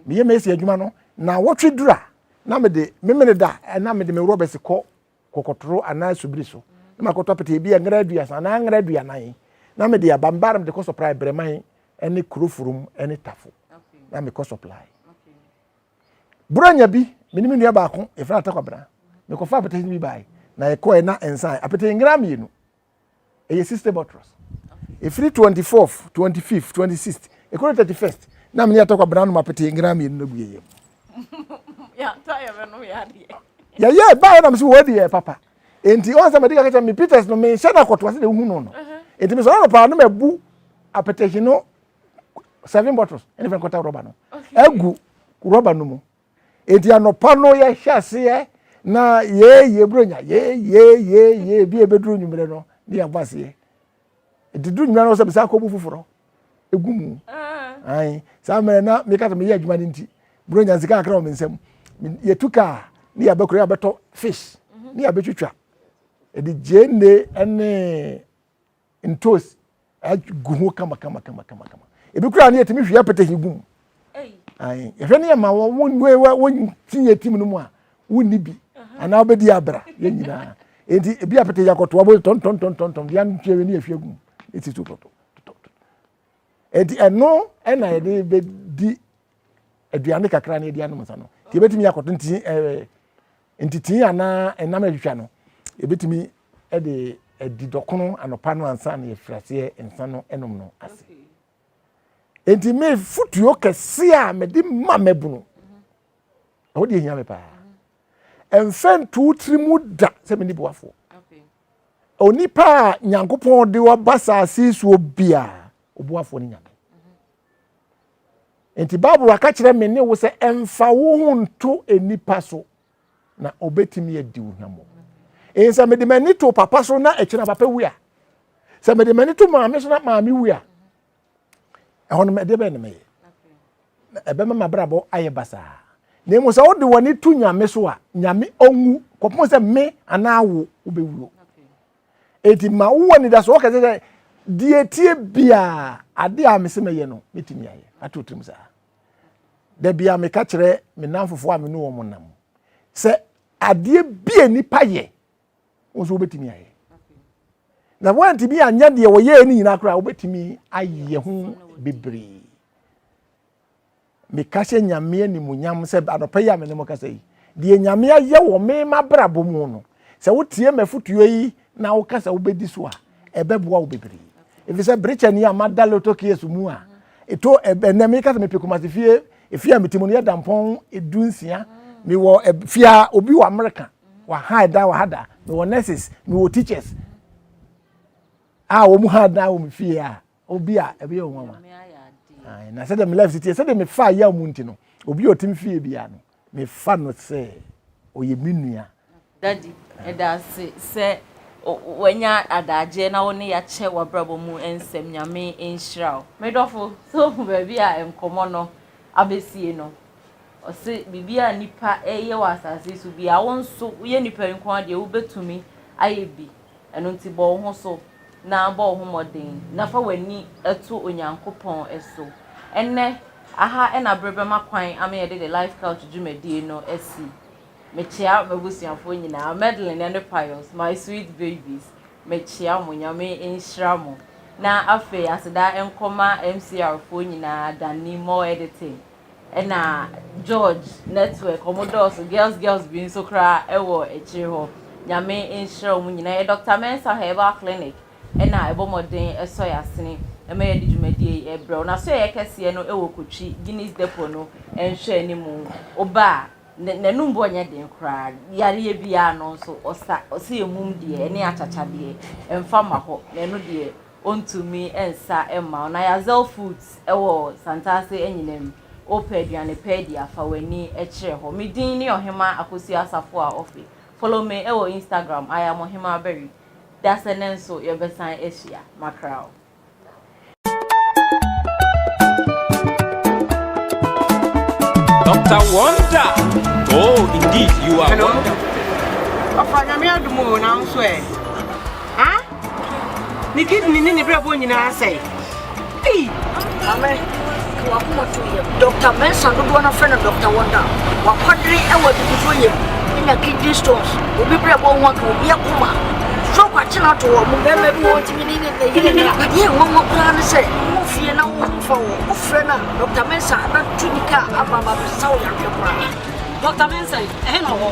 Meyɛ mɛsi adwuma no, na wɔtwe dura na mede memene da na mede me rɔbɛsi kɔ kɔkɔtoro anaa subiri so na makɔtɔ apete ebi a ngra aduasa anaa ngra aduanan na mede aba mbaa na mede kɔ supply Brɛman ne Kurofurum ne Tafo na mekɔ supply. Borɔnya bi, me ne me nua baako, yɛfrɛ no Atakwabena, mekɔfa apete no bi bae na yɛkɔe na nsae apete ngra mmienu. ɛyɛ six day bɔtrɔs ɛfiri twenty fourth twenty fifth twenty sixth ɛkɔrɔ thirty first na mene yɛtɔ kwabena nom apete ngra mmienu no gu yɛyɛ mu yɛyɛ baeɛ nam sɛ wɔadi yɛ papa enti ɔn sɛ mede ka kyɛ me peters no menhyɛ no akɔtoa sɛ de wohu no no enti mesɔre no paa no mabu apetehye no seven bottles ɛne fɛ nkɔta rɔba no agu rɔba no mu Enti anɔpa no yɛhyɛ aseɛ na yɛɛyɛ buronya yɛɛyɛɛyɛɛyɛ bi a ɛbɛduru nwummerɛ no ne yɛabɔ aseɛ. Enti duru nwummerɛ no sɛ mesan kɔbu foforɔ ɛgu mu. Ae, saa mmerɛ na meka sɛ meyɛ adwuma no nti buronya nsika kakra wɔ me nsam. Yɛtu kaa ne yɛabɛ kuro yɛabɛtɔ fish ne yɛabɛtwitwa. Ɛde Jane ne ntoosi agu ho kama kama kama kama kama ebi kura ne yɛtumi hwie apɛtɛhi gum ayi yɛhwɛ ne yɛ ma wɔn wɔn wɔn wɔn ti yɛ tim no mu a wonni bi anaa wobɛdi abra yɛn nyinaa enti ebi apɛtɛhi akɔto abo tɔntɔntɔntɔntɔn deɛ ntwere ne yɛhwie gum eti to tɔtɔ enti ɛno ɛna yɛde bɛdi aduane kakra na yɛde anom nsa no nti yɛbɛtumi akɔto nti ɛɛ ntitii anaa ɛnam atwitwa no yɛbɛtumi ɛde ɛdi dɔkono anɔpa no ansa na yɛfiri aseɛ nsa no ɛnom no ase nti me futuo kɛse a mede ma mɛbunu ɛhɔ deɛ hia me paa ɛmfɛ nto tiri mu da sɛ mene boafoɔ onipa a nyankopɔn de waba saase suo bia ɔboafoɔ no nyame Enti Bible aka kyerɛ me ne wo sɛ ɛmfa wo ho nto nnipa so na ɔbɛtumi adi wo hwammɔ. Ɛyɛ sɛ mede m'ani to papa so na ɛkyerɛ papa wu a, sɛ mede m'ani to maame so na maame wu a, ɛhɔ no ɛdeɛ bɛyɛ na mɛyɛ? Ɛbɛma m'abrabɔ ayɛ basaa. Na mmom sɛ wode w'ani to nyame so a, nyame ɔnwu kɔpem sɛ me anaa wo wobɛwuo. Enti ma wo anidaso wɔ kɛse sɛ deɛ ɛteɛ biara adeɛ a mese mɛyɛ no mɛtumi ayɛ. Ato tirim saa. Da bi a meka kyerɛ me nnamfofoɔ a me ne wɔn nam sɛ adeɛ bi a nipa yɛ wɔn nso wobɛtumi ayɛ. Na wɔantumi anyɛ deɛ wɔyɛɛ no nyinaa koraa wobɛtumi ayɛ ho bebree. meka hyɛ Nyame animuonyam sɛ anɔpa yi a me ne mo kasa yi, deɛ Nyame ayɛ wɔ me m'abrabɔ mu no, sɛ wotie m'afotuo yi na woka sɛ wobɛdi so a, ɛbɛboa wo bebree. Ɛfiri sɛ berekyɛ ni a mada lotto case mu a, ɛto ɛnɛ meka sɛ mepɛ Kumasi fie, efie a mete mu no yɛ dampɔn edu nsia, mewɔ fie a obi wɔ Amerika, waha ɛdan wɔ ha da, mewɔ nurses, mewɔ teachers a wɔn ha dan wɔ me fie a, obi a ɛbɛyɛ wɔn nwanwa na sɛdeɛ me life teɛ sɛdeɛ mefa yɛ mu nti no obi a ɔtim fie biara no mefa no sɛ ɔyɛ me nua dadi ɛda ase sɛ wanya adagyeɛ na wo ne yɛakyɛ w'abrabɔ mu nsɛm nyame nhyira wo medɔfo sɛ ohu baabi a nkɔmmɔ no abɛsie no ɔse biribi a nipa ɛyɛ wɔ asase so bia wo nso woyɛ nipa nko adeɛ wobɛtumi ayɛ bi Ɛno nti, bɔ wo ho so na bɔ wo ho mmɔden na fa w'ani to Onyankopɔn so. Ɛnnɛ, aha na bere bɛma kwan ama yɛde The Life Couch dwumadie no asi. Mekyea m'abusuafoɔ nyinaa, Madeline ne Pius, my sweet babies. Mekyea mo, Nyame nhyira mo. Na afei, aseda nkɔma MCR foɔ nyinaa, Danny, More Editing, Ɛna George network ɔmo dɔɔso girls girls bi nso koraa ɛwɔ akyire hɔ nyame nhyira ɔmo nyinaa yɛ Doctor Mensah herbal clinic ɛna ɛbɔ mmɔden ɛsɔ yasene ɛma yɛde dwumadie yi ɛbrɛw na so ɛyɛ kɛseɛ no ɛwɔ kotwi Guinness depot no ɛnhwɛ animu oba a n'anum bɔ nyɛ den koraa yareɛ biara no nso ɔsa ɔsɛ emum deɛ ɛne akyakya deɛ ɛnfa ma hɔ na ɛno deɛ Ontumi nsa mma wo. Na Yazel Foods wɔ Santase anyinam. Wopɛ aduane pa adi a, fa w'ani kyerɛ hɔ. Me din ne Ɔhemaa Akosua Asafoah Offey. Follow me wɔ Instagram, I am Ɔhemaa Barry. Dasɛnɛ nso yɛbɛsan ahyia. Makra wo. Doctor Wonder, oh indeed you are Hello. wonderful. Papa, nyame adom o, nanso ɛ. Ne kidney ne ne brɛbɔ nyinaa sɛe. Ei! Maame, ka wakoma to yam. Dɔkta Mensah dodoɔ no afrɛ no Dɔkta Wonder. Wakwadere wɔ abibifoɔ yam. Anya kidney stones. Obi brɛbɔ ho aka obi akoma. Stroke akye no ato wɔn. Mmarima bi wɔ ntumi ne ne yere nna. Adeɛ nwanwa koraa ne sɛ wo fie na wo ho fa wɔ. Wofrɛ no a, Dɔkta Mensah bɛto nika aba abɛsa wo yareɛ koraa. Dɔkta Mensah, ɛhe na ɔwɔ?